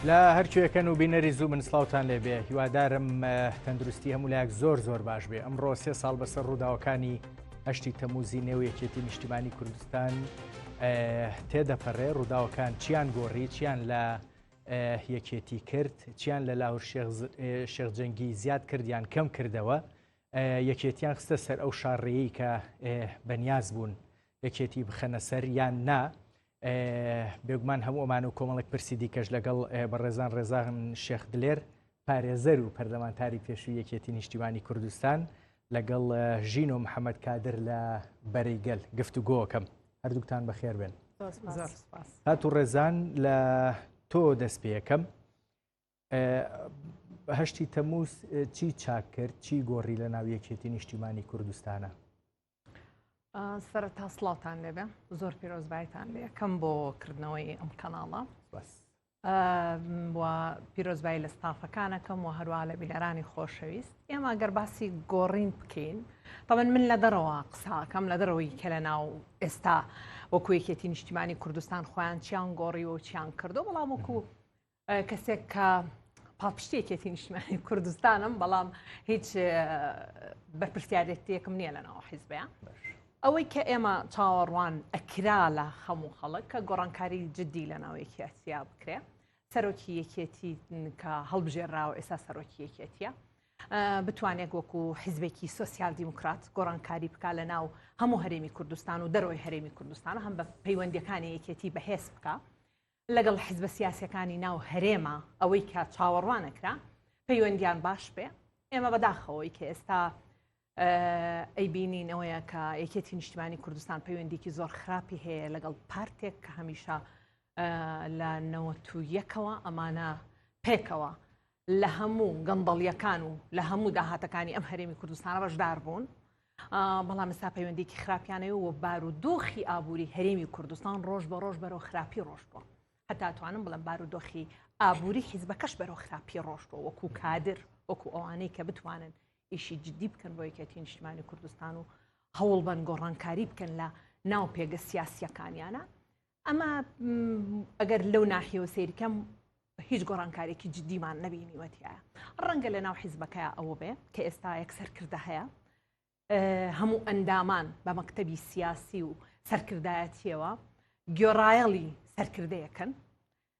لە هەرکوێکەن و بینەری زوو من سلااوان لێ بێ هیوادارم تەندروستی هەمولایەک زۆر زۆر باش بێ ئەمڕۆ سێ ساڵ بەسەر ڕووداوەکانی هەشتی تەموزی نێو یەکێتی نیشتیمانی کوردستان تێدەپەڕێ ڕووداوەکان چیان گۆڕی چیان لە یەکێتی کرد چیان لە لاهور شێخجەنگی زیاد کردیان کەم کردەوە یەکێتیان خستە سەر ئەو شارڕێی کە بەنیاز بوون یەکێتی بخەنە سەر یان نا بێگومان هەموو ئەمان و کۆمەڵێک پرسی دیکەش لەگەڵ بەڕێزان ڕێزان شێخ دلێر پارێزەر و پەرلەمانتاری پێشووی یەکێتی نیشتیمانی کوردستان لەگەڵ ژین و محەممەد کادر لە بەرەی گەل گفت و گۆکەم هەردووکتان بەخێر بێن هات و ڕێزان لە تۆ دەست پێەکەم هەشتی تەمووز چی چاک کرد چی گۆڕی لە ناو یەکێتی نیشتیمانی کوردستانە سەر تا سلااوان لێبێ زۆر پیرۆزبایتان لێ کەم بۆ کردنەوەی ئەم کەناڵە بەس پیرۆزبایی لە ستافەکانەکەم و هەروە لە بیلەرانی خۆشەویست ئێمە گەر باسی گۆڕین بکەین تەمەن من لە دەرەوە قساکەم لە دەرەوەی کە لە ناو ئێستا وەکوەکێتی نیشتیمانی کوردستان خۆیان چیان گۆڕی و چیان کردو بەڵام وەکو کەسێک کە پاڵپشتی یەکێتی نیشتمانی کوردستانم بەڵام هیچ بەرپرسیارێتیەکم نییە لەناو حیزبیان ئەوەی کە ئێمە چاوەڕوان ئەکرا لە خەموو خەڵک کە گۆڕانکاری جددی لە ناوێکی ئەسیا بکرێ سەرۆکی یەکێتی کە هەڵبژێراوە ئێستا سەرۆکی یەکێتیە بتوانێت وەکو حیزبێکی سوسیال دیموکرات گۆڕانکاری بک لە ناو هەموو هەرێمی کوردستان و دەرەوەی هەرێمی کوردستان هەم بە پەیوەندەکانی یەکێتی بەهێز بکە لەگەڵ حزبە سیاسیەکانی ناو هەرێمە ئەوەی کە چاوەڕوانەکرا پەیوەندیان باش بێ ئێمە بەداخەوەی کە ئێستا ئەی بینین ئەوەیە کە یەکێتی نیشتمانی کوردستان پەیوەندیکی زۆر خراپی هەیە لەگەڵ پارتێک کە هەمیشە لە نەوە تو یەکەوە ئەمانە پێکەوە لە هەموو گەندەڵیەکان و لە هەموو داهاتەکانی ئەم هەرێمی کوردستانە بەشدار بوون بەڵام ئستا پەیوەندێکی خراپیانەوە و بار و دۆخی ئابووری هەرێمی کوردستان ڕۆژ بە ڕۆژ بەرەو خراپی ڕۆژ بووە هەتا توانم بڵم بار و دۆخی ئابووری حیزبەکەش بەرەو خراپی ڕۆژبووە وەکو کادر وەکو ئەوانەی کە بتوانن ئیشی جددی بکەن بۆ یەکێتی نیشتمانی کوردستان و هەوڵ بەن گۆڕانکاری بکەن لە ناو پێگە سیاسیەکانیانە ئەمە ئەگەر لەو ناحیەوە سیرکەم هیچ گۆڕانکارێکی جددیمان نەبینیوەتیە ڕەنگە لە ناو حیزبەکە ئەوە بێ کە ئێستا یەک سەرکردە هەیە هەموو ئەندامان بە مەکتتەبی سیاسی و سەرکردایەتیەوە گۆڕایەڵی سەرکردەیەکەن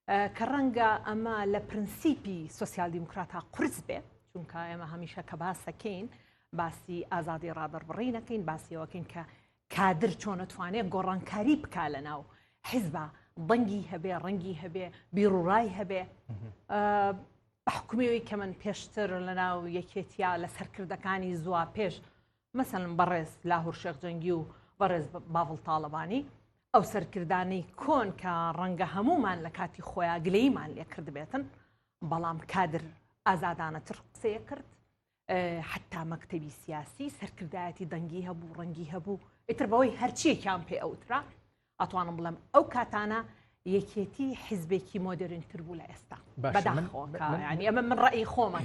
کە ڕەنگە ئەمە لە پرنسیپی سوسیال دیموکراتە قرس بێ چونکە ئێمە هەمیشە کە باسەکەین باسی ئازادی ڕادەربڕی نەکەین باسیەوەکەین کە کادر چۆنەتوانێت گۆڕانکاری بک لە ناو حیزبە بەنگی هەبێ ڕەنگی هەبێ بیڕوڕای هەبێ بەحکومەوەی کە من پێشتر لە ناو یەکێتیا لە سەرکردەکانی زووا پێش مەسەلەن بەڕێز لاهور شێخ جەنگی و بەڕێز باڤڵ تاڵەبانی ئەو سەرکردانەی کۆن کە ڕەنگە هەمومان لە کاتی خۆیان گلەیمان لێ کردبێتن بەڵام کادر ئازادانە تر قسەیە کرد حتا مەکتتەبی سیاسی سەرکردایەتی دەنگی هەبوو ڕەنگی هەبوو ئیتر بەوەی هەرچیەکیان پێ ئەوترا ئەتوانم بڵێم ئەو کاتانە یەکێتی حیزبێکی مۆدررین تر بوو لە ئێستا ئەمە من ڕێی خۆمە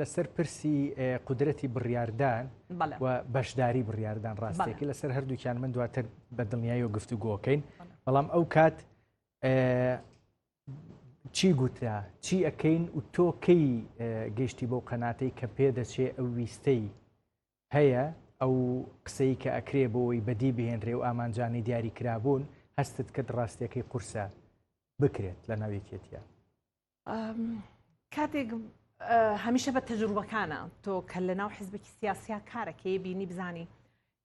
لەسەر پرسی قدرەتی بڕاردان و بەشداری بڕاردان ڕاستێکی لەسەر هەردووکیان من دواتر بە دڵنیایی و گفتوگۆکەین بەڵام ئەو کات چی گوترا چی ئەەکەین و تۆکەی گەشتی بەو قەناتەی کە پێ دەچێ ئەو ویستەی هەیە ئەو قسەی کە ئەکرێ بۆوەی بەدی بهێنرێ و ئامانجانەی دیاری کرابوون هەستت کرد ڕاستیەکەی قورسە بکرێت لە ناو یەکێتیە؟ کاتێک هەمیشە بە تەجروبەکانە تۆ کە لە ناو حزبێکی سیاسیا کارەکەی بینی بزانی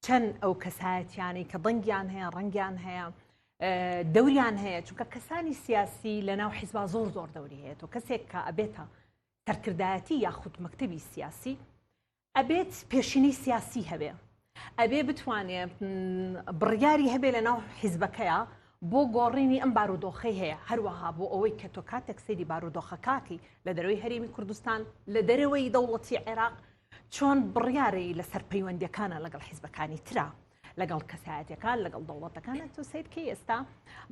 چەند ئەو کەسایەتیانی کە دەنگیان هەیە ڕەنگیان هەیە دەوریان هەیە چونکە کەسانی سیاسی لە ناو حیزبا زۆر زۆر دەوری هەیە تۆ کەسێک کە ئەبێتە سەرکردایەتی یاخود مەکتتەبی سیاسی ئەبێت پێشینەی سیاسی هەبێ ئەبێ بتوانێ بڕیاری هەبێ لە ناو حیزبەکەیە بۆ گۆڕینی ئەم بارودۆخی هەیە هەروەها بۆ ئەوەی کە تۆ کاتێک سەیری بارودۆخەکاتی لە دەروی هەرێمی کوردستان لە دەرەوەی دەوڵەتی عێراق چۆن بڕیارەی لەسەر پەیوەندەکانە لەگەڵ حیزبەکانی تررا لەگەڵ کەسایەتەکان لەگەڵ دەوڵەتەکان تۆ سیر کەی ئێستا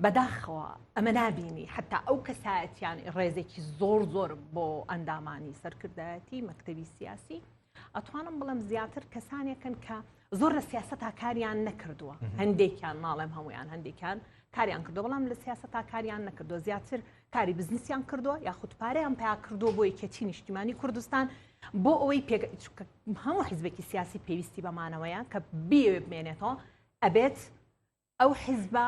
بەداخەوە ئەمە نبینی حتا ئەو کەسایەتیان ڕێزێکی زۆر زۆر بۆ ئەندامانی سەرکردایەتی مەکتتەبی سیاسی ئەتوانم بڵم زیاتر کەسانێکن کە زۆر لە سیاست تاکاریان نەکردووە هەندێکیان ماڵێم هەمویان هەندێکیان کاریان کردو بەڵام لە سیاست تاکاریان نەکردو زیاتر کاری بزنسیان کردووە یاخود پارەیان پیا کردووە بۆ یەکێتی نیشتیمانی کوردستان بۆ ئەوەی پێک هەموو حزبێکی سیاسی پێویستی بەمانەوەیە کە بیەوێ بمێنێتەوە ئەبێت ئەو حزبە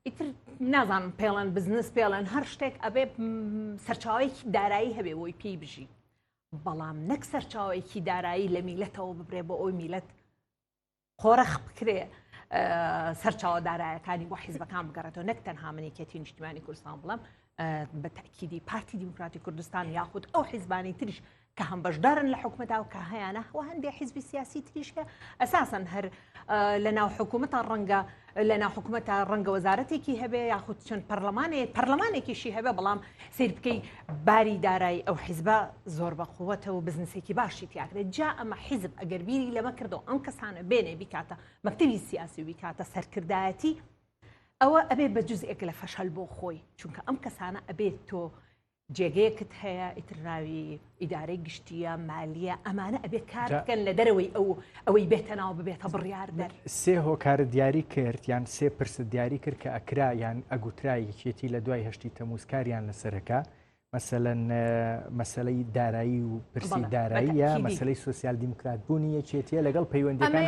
ئیتر نازانم پێڵەن بزنس پێڵەن هەر شتێک ئەبێ سەرچاوێکی دارایی هەبێ بۆی پێی بژی بەڵام نەک سەرچاوێکی دارایی لە میلەتەوە ببرێ بۆ ئەوی میلەت قۆرخ بکرێ سەرچاوە دارایەکانی بۆ حیزبەکان بگەڕێتەوە نەک تەنها منێکێتی نیشتمانی کوردستان بڵم بە تاکیدی پارتی دیموکراتی کوردستان یاخود ئەو حیزبانی تریش کە هەم بەشدارن لە حکومەدا و کە هەیەە هەوە هەندێک حیزبی سیاسی تریشە ئەساسن هەر لە ناو حکوومەتە ڕەنگە لە ناو حکومەتە ڕەنگە وەزارەتێکی هەبێ یاخود چەند پەرلەمانێ پەرلەمانێکیشی هەبێ بەڵام سیر بکەی باری دارایی ئەو حیزبە زۆر بە قووەتە و بزنسێکی باشی تیاکرێت جا ئەمە حیزب ئەگەر بیری لەمە کردو ئەم کەسانە بێنێ بیکاتە مەکتتەوی سیاسی و بیکاتە سەرکردایەتی ئەوە ئەبێ بە جزئێک لە فەشەل بۆ خۆی چونکە ئەم کەسانە ئەبێت تۆ جێگەیەکت هەیە ئیتر ناوی ئیدارەی گشتیە مالیە ئەمانە ئەبێ کار بکەن لە دەرەوەی ئەو ئەوەی بێتە ناو ببێتە بڕیار دەر سێ هۆکارە دیاری کرد یان سێ پرسە دیاری کرد کە ئەکرا یان ئەگوترایی چێتی لە دوای هەشتی تەموزکاریان لەسەرەکە مەسەەن مەسلەی دارایی و پرسی داراییە مەسلەی سوسیال دیموکرات بوونی یەکێتیە لەگەڵ پەیوەندەکان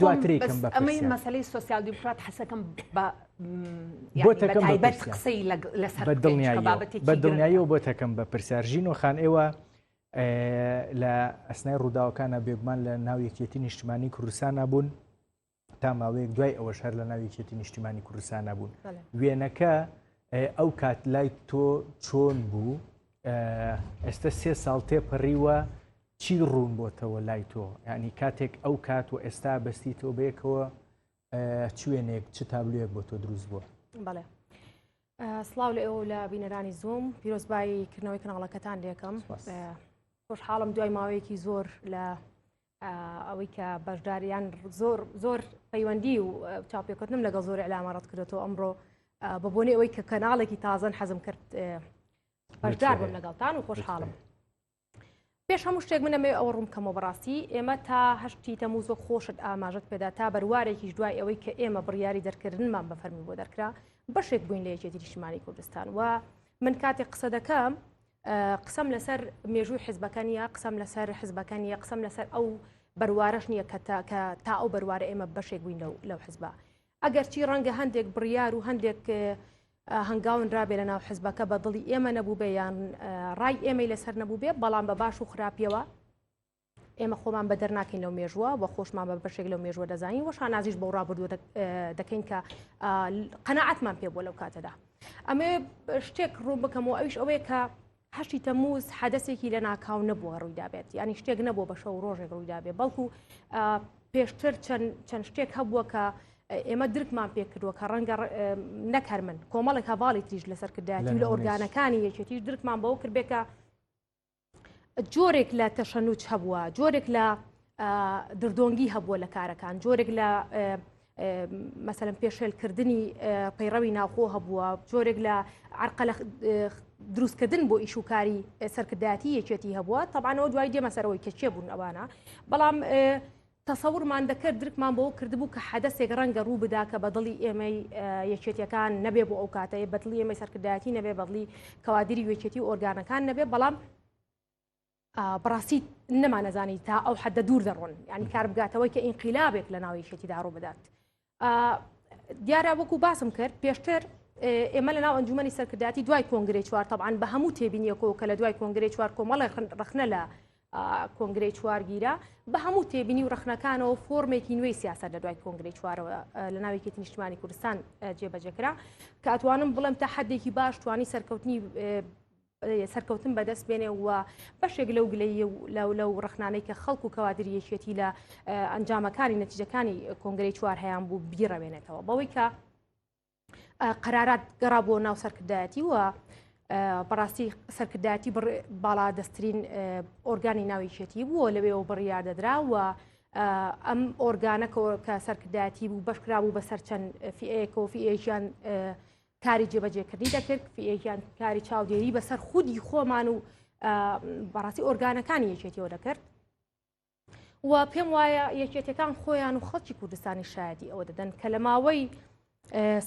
دواترێکم بە ئەمەی مەسلەی سوسیال دیموکرات حەسەکەم بە بۆ تەکەم بە دڵنیاییەوە بۆ تەکەم بە پرسیار ژین و خان ئێوە لە ئەسنای ڕووداوەکانە بێگومان لە ناو یەکێتی نیشتمانی کوردستان نبوون تا ماوەیەک دوای ئەوەش هەر لە ناو یەکێتی نیشتیمانی کوردستان نبوون وێنەکە ئەو کات لای تۆ چۆن بوو ئێستا سێ ساڵ تێپەڕیوە چی ڕوون بۆتەوە لای تۆ ینی کاتێک ئەو کات و ئێستا بەستی تۆ بەیەکەوە چ وێنەیەک چ تابلویەک بۆ تۆ دروست بووە؟ بەڵێ سلااو لە ئێوە لە بینەرانی زوم پیرۆزبایی کردنەوەی کەناڵەکەتان لەکەم خۆشحاڵم دوای ماوەیەکی زۆر لە ئەوەی کە بەشداریان زۆر زۆر پەیوەندی و چاپێکردنم لەگەڵ زۆر علامەڕەت کردێتەوە ئەمڕۆ بە بۆنی ئەوەی کە کەناڵێکی تازەن حەزم کرد بەشدار بم لەگەڵتان و خۆشحاڵم پێش هەموو شتێک منە مێ ئەوە ڕوومکەمەوە بەڕاستی ئێمە تا هەشتی تەموز و خۆشت ئاماژت پێدا تا بەروارێکیش دوای ئەوەی کە ئێمە بڕیاری دەرکردنمان بە فەرمی بۆ دەرکرا بەشێک بووین لە یەکێتی نیشتمانی کوردستان و من کاتێک قسە دەکەم قسەم لەسەر مێژووی حزبەکان یا قسەم لەسەر حزبەکان یا قسەم لەسەر ئەو بەروارەش نییە کە تا ئەو بەروارە ئێمە بەشێک بووین لەو حزبە ئەگەرچی ڕەنگە هەندێک بڕیار و هەندێک هەنگاون رابێ لە ناو حزبەکە بە دڵی ئێمە نەبووبێ یان ڕای ئێمەی لەسەر نەبووبێ بەڵام بە باش و خراپیەوە ئێمە خۆمان بە دەرناکەین لەو مێژووە و خۆشمان بە بەشێک لەو مێژووە دەزانین وە شانازیش بۆ ڕابردوو دەکەین کە قەنەعاتمان پێ بۆ لەو کاتەدا ئەمێ شتێک ڕوو بکەم و ئەویش ئەوەیە کە هەشتی تەموز حەدەسێکی لە ناکاو نەبووە ڕوویدابێت یعنی شتێک نەبوو بە شەو ڕۆژێک ڕوویدابێ بەڵکو پێشتر چەند شتێک هەبووە کە ئێمە درکمان پێکردووە کە ڕەنگە نەکەر من کۆمەڵێک هەواڵی تریش لەسەر کردایەتی لە ئۆرگانەکانی یەکێتیش درکمان بەوە کردبێکە جۆرێک لە تەشەنوچ هەبووە جۆرێک لە دردۆنگی هەبووە لە کارەکان جۆرێک لە مەسەرم پێشێلکردنی پەیڕەوی ناوخۆ هەبووە جۆرێک لە عرقە لە دروستکردن بۆ ئیش و کاری سەرکردایەتی یەکێتی هەبووە تەبانەوە دوای دێمە سەرەوەی کە چێ بوون ئەوانە بەڵام تەسەورمان دەکرد درکمان بۆ کردبوو کە حەدەسێک ڕەنگە ڕوو بدا کە بەدڵی ئێمەی یەکێتیەکان نەبێ بۆ ئەو کاتەیە بەدڵی ئێمەی سەرکردایەتی نەبێ بەدڵی کەوادری وێکێتی و ئۆرگانەکان نەبێ بەڵام بەڕاستی نەمانەزانی تا ئەو حەدە دوور دەڕۆن یعنی کار بگاتەوەی کە ئینقلابێک لە ناوی شێتیدا ڕوو بدات دیارە وەکو باسم کرد پێشتر ئێمە لە ناو ئەنجومی سەرکرداتی دوای کۆنگری چوار تەبان بە هەموو تێبینیەکەەوە کە لە دوای کۆنگری چوار کۆمەڵی ڕخنە لە کۆنگری چوارگیرە بە هەموو تێبینی و ڕخنەکانەوە فۆرمێکی نوێی سیاست لە دوای کۆنگری چوارەوە لە ناوێکی نیشتمانی کوردستان جێبەجێکرا کە ئەتوانم بڵێم تا حدێکی باش توانی سەرکەوتنی سەرکەوتن بەدەست بێنێ و بەشێک لەو گلەیە و لەو لەو ڕخنانەی کە خەڵکو و کەوادری یەکێتی لە ئەنجامەکانی نەتیجەکانی کۆنگری چوار هەیان بوو بیڕەوێنێتەوە بەوەی کە قەرارات گەڕا بۆ ناو سەرکردایەتی وە بەڕاستی سەرکردایەتی باڵا دەستترین ئۆرگانی ناویچێتی بووە لەوێ و بڕیار دەدرا و ئەم ئۆرگانە کە سەرکردایەتی بوو بەشکرا بوو بەسەر چەند فئەیەکۆفیئێکیان کاری جێبەجێکردنی دەکرد یان کاری چاودێری بەسەر خودی خۆمان و بەڕاستی ئۆرگانەکانی یەکێتیەوە دەکرد و پێم وایە یەکێتەکان خۆیان و خەڵکی کوردستانی شایدی ئەوە دەدەن کە لە ماوەی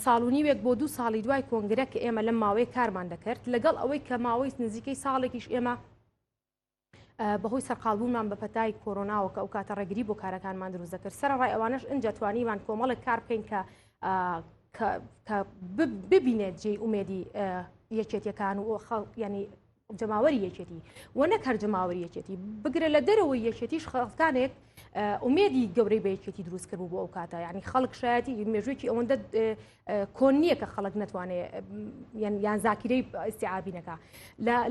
ساڵونی وێک بۆ دوو ساڵی دوای کۆنگرە کە ئێمە لەم ماوەی کارمان دەکرد لەگەڵ ئەوەی کە ماوەی نزیکەی ساڵێکیش ئێمە بەهۆی سەرقاڵبوونمان بە پەتای کۆرۆناوە کە ئەو کاتە ڕێگری بۆ کارەکانمان دروست دەکرد سەرڕای ئەوانش ئەجا توانیمان کۆمەڵێک کار بکەین کە کە ببینێت جێی ئومێدی یەکێتیەکان و خەڵ ینی جەماوەری یەکێتی و نەک هەر جەماوەری یەکێتی بگرە لە دەرەوەی یەکێتیش خەڵکانێک ئومێدی گەورەی بە یەکێتی دروستکرد بوو بۆ ئەو کاتە ینی خەڵک شایەتی مێژوێکی ئەوەندە کۆن نیە کە خەڵک نەتوانێ یان زاکیرەی ئیسیعابی نەکە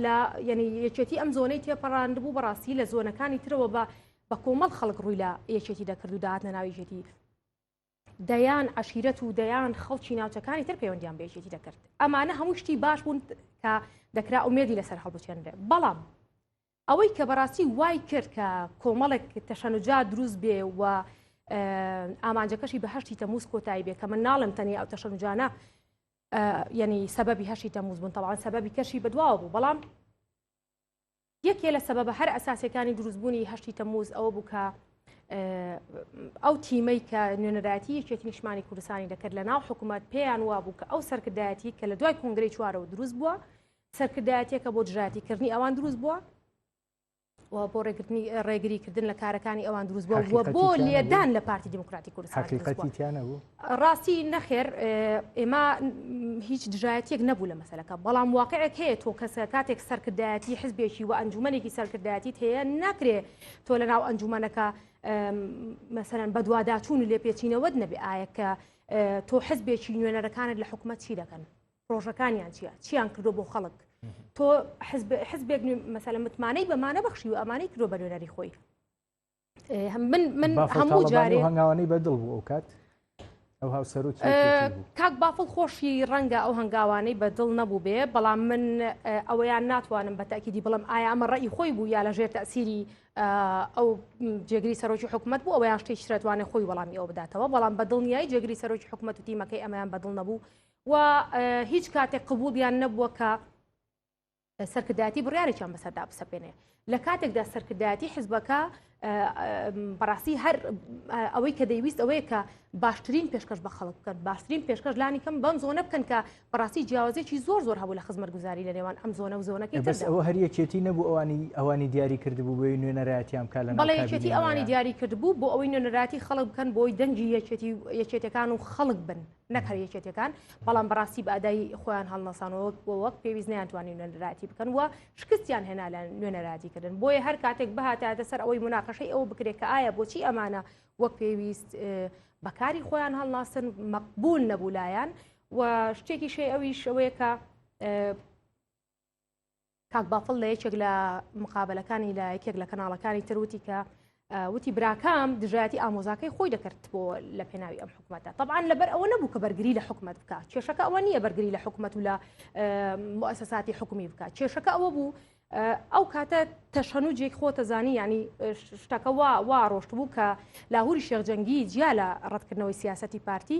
لە یعنی یەکێتی ئەم زۆنەی تێپەڕاند بوو بەڕاستی لە زۆنەکانی ترەوە بە بە کۆمەڵ خەڵک ڕووی لە یەکێتی دەکرد و داهاتە ناویژێتی دەیان عشیرەت و دەیان خەڵکی ناوچەکانی تر پەیوەندیان بێژێتی دەکرد ئەمانە هەموو شتی باش بوون کە دەکرا ئومێدی لەسەر هەڵبچێنرێ بەڵام ئەوەی کە بەڕاستی وای کرد کە کۆمەڵێک تەشەنجا دروست بێ و ئامانجەکەشی بە هەشتی تەموز کۆتایی بێ کە من ناڵم تەنیا ئەو تەشەنجانە یعنی سەبەبی هەشتی تەموز بوون تەواان سەبەبی کەشی بەدواوە بوو بەڵام یەکێ لە سەبەبە هەر ئەساسەکانی دروستبوونی هەشتی تەموز ئەوە بوو کە ئەو تیمەی کە نوێنەرایەتی یەکێتی نیشمانی کوردستانی دەکرد لە ناو حکوومەت پێیان وابوو کە ئەو سەرکردایەتی کە لە دوای کنگرەی چوارەوە دروست بووە سەرکردایەتیەکە بۆ دژایەتی کردنی ئەوان دروست بووە و بۆ ڕێگرتنی ڕێگری کردن لە کارەکانی ئەوان دروست بووە بووە بۆ لێدان لە پارتی دیموکراتی کوردستان بوو ڕاستی نەخێر ئێمە هیچ دژایەتێک نەبوو لە مەسلەکە بەڵام واقعێک هەیە تۆ کەسە کاتێک سەرکردایەتی حزبێکی و ئەنجومەنێکی سەرکردایەتی هەیە ناکرێ تۆ لە ناو ئەنجومەنەکە مەسەرەن بەدواداچوون و لێپێچینەوەت نەبێ ئاەکە تۆ حزبێکی نوێنەرەکانت لە حکومەت چی دەکەن پرۆژەکانیان چیە چیان کردو بۆ خەڵک تۆ حزبێک مەسەلە متمانەی بەمانە بەخشی و ئەمانەی کرۆ بە نوێنەری خۆی من من هەموو جارێ هەنگاوانی بەدڵ بوو ئەو کات ئەو هاوسەرو کاک بافڵ خۆشی ڕەنگە ئەو هەنگاوانەی بە دڵ نەبوو بێ بەڵام من ئەوەیان ناتوانم بە تاکیدی بڵم ئایا ئەمە ڕێی خۆی بوو یا لە ژێر تاسیری ئەو جێگری سەرۆکی حکوومەت بوو ئەویان شتێک شرێتوانێت خۆی وەڵامی ئەو بداتەوە بەڵام بە دڵنیایی جێگری سەرۆکی حکوومەت و تیمەکەی ئەمەیان بەدڵ نەبوو و هیچ کاتێک قبولیان نەبووە کە سەرکردایەتی بڕارێکیان بەسەردا بسەپێنێ لە کاتێکدا سەرکردایەتی حزبەکە بەڕاستی هەر ئەوەی کە دەیویست ئەوەیە کە باشترین پێشکەش بە خەڵک بکەن باشترین پێشکەش لانی کەم بەم زۆنە بکەن کە بەڕاستی جیاوازێکی زۆر زۆر هەبوو لە خزمەت گوزاری لە نێوان ئەم زۆنە و زۆنەکە بەس ئەوە هەر یەکێتی نەبوو ئەوانی ئەوانی دیاری کردبوو بۆی نوێنەراتیان کا لە بەڵێ یەکێتی ئەوانی دیاری کردبوو بۆ ئەوەی نوێنەراتی خەڵک بکەن بۆی دەنگی یەکێتی یەکێتەکان و خەڵک بن نەک هەر یەکێتەکان بەڵام بەڕاستی بە ئەدای خۆیان هەڵنەسانەوە وەک پێویست نیانتوانی نوێنەراتی بکەن و شکستیان هێنا لە نوێنەراتی کردن بۆیە هەر کاتێک بهاتاتە سەر ئەوەی مناقەشەی ئەوە بکرێت کە ئایا بۆچی ئەمانە وەک پێویست بەکاری خۆیان هەڵناسن مەقبول نەبوولایەن و شتێکی شێ ئەویش ئەوەیە کە کاک بافڵ لە یەکێک لە مقابلەکانی لە یەکێک لە کەناڵەکانی تر وتی کە وتی براکەم دژایەتی ئامۆزاکەی خۆی دەکرد بۆ لە پێناوی ئەم حکوومەتە طبعاان لەبەر ئەوە نەبوو کە بەرگری لە حکوومەت بکە کێشەکە ئەوە نییە بەرگری لە حکوومەت و لە مؤسساتی حکومی بکە کێشەکە ئەوە بوو ئەو کاتە تەشەن و جێک خۆتە زانی ینی شتەکە وا وا ڕۆشت بوو کە لاهوری شێخجەنگی جیا لە ڕەتکردنەوەی سیاستی پارتی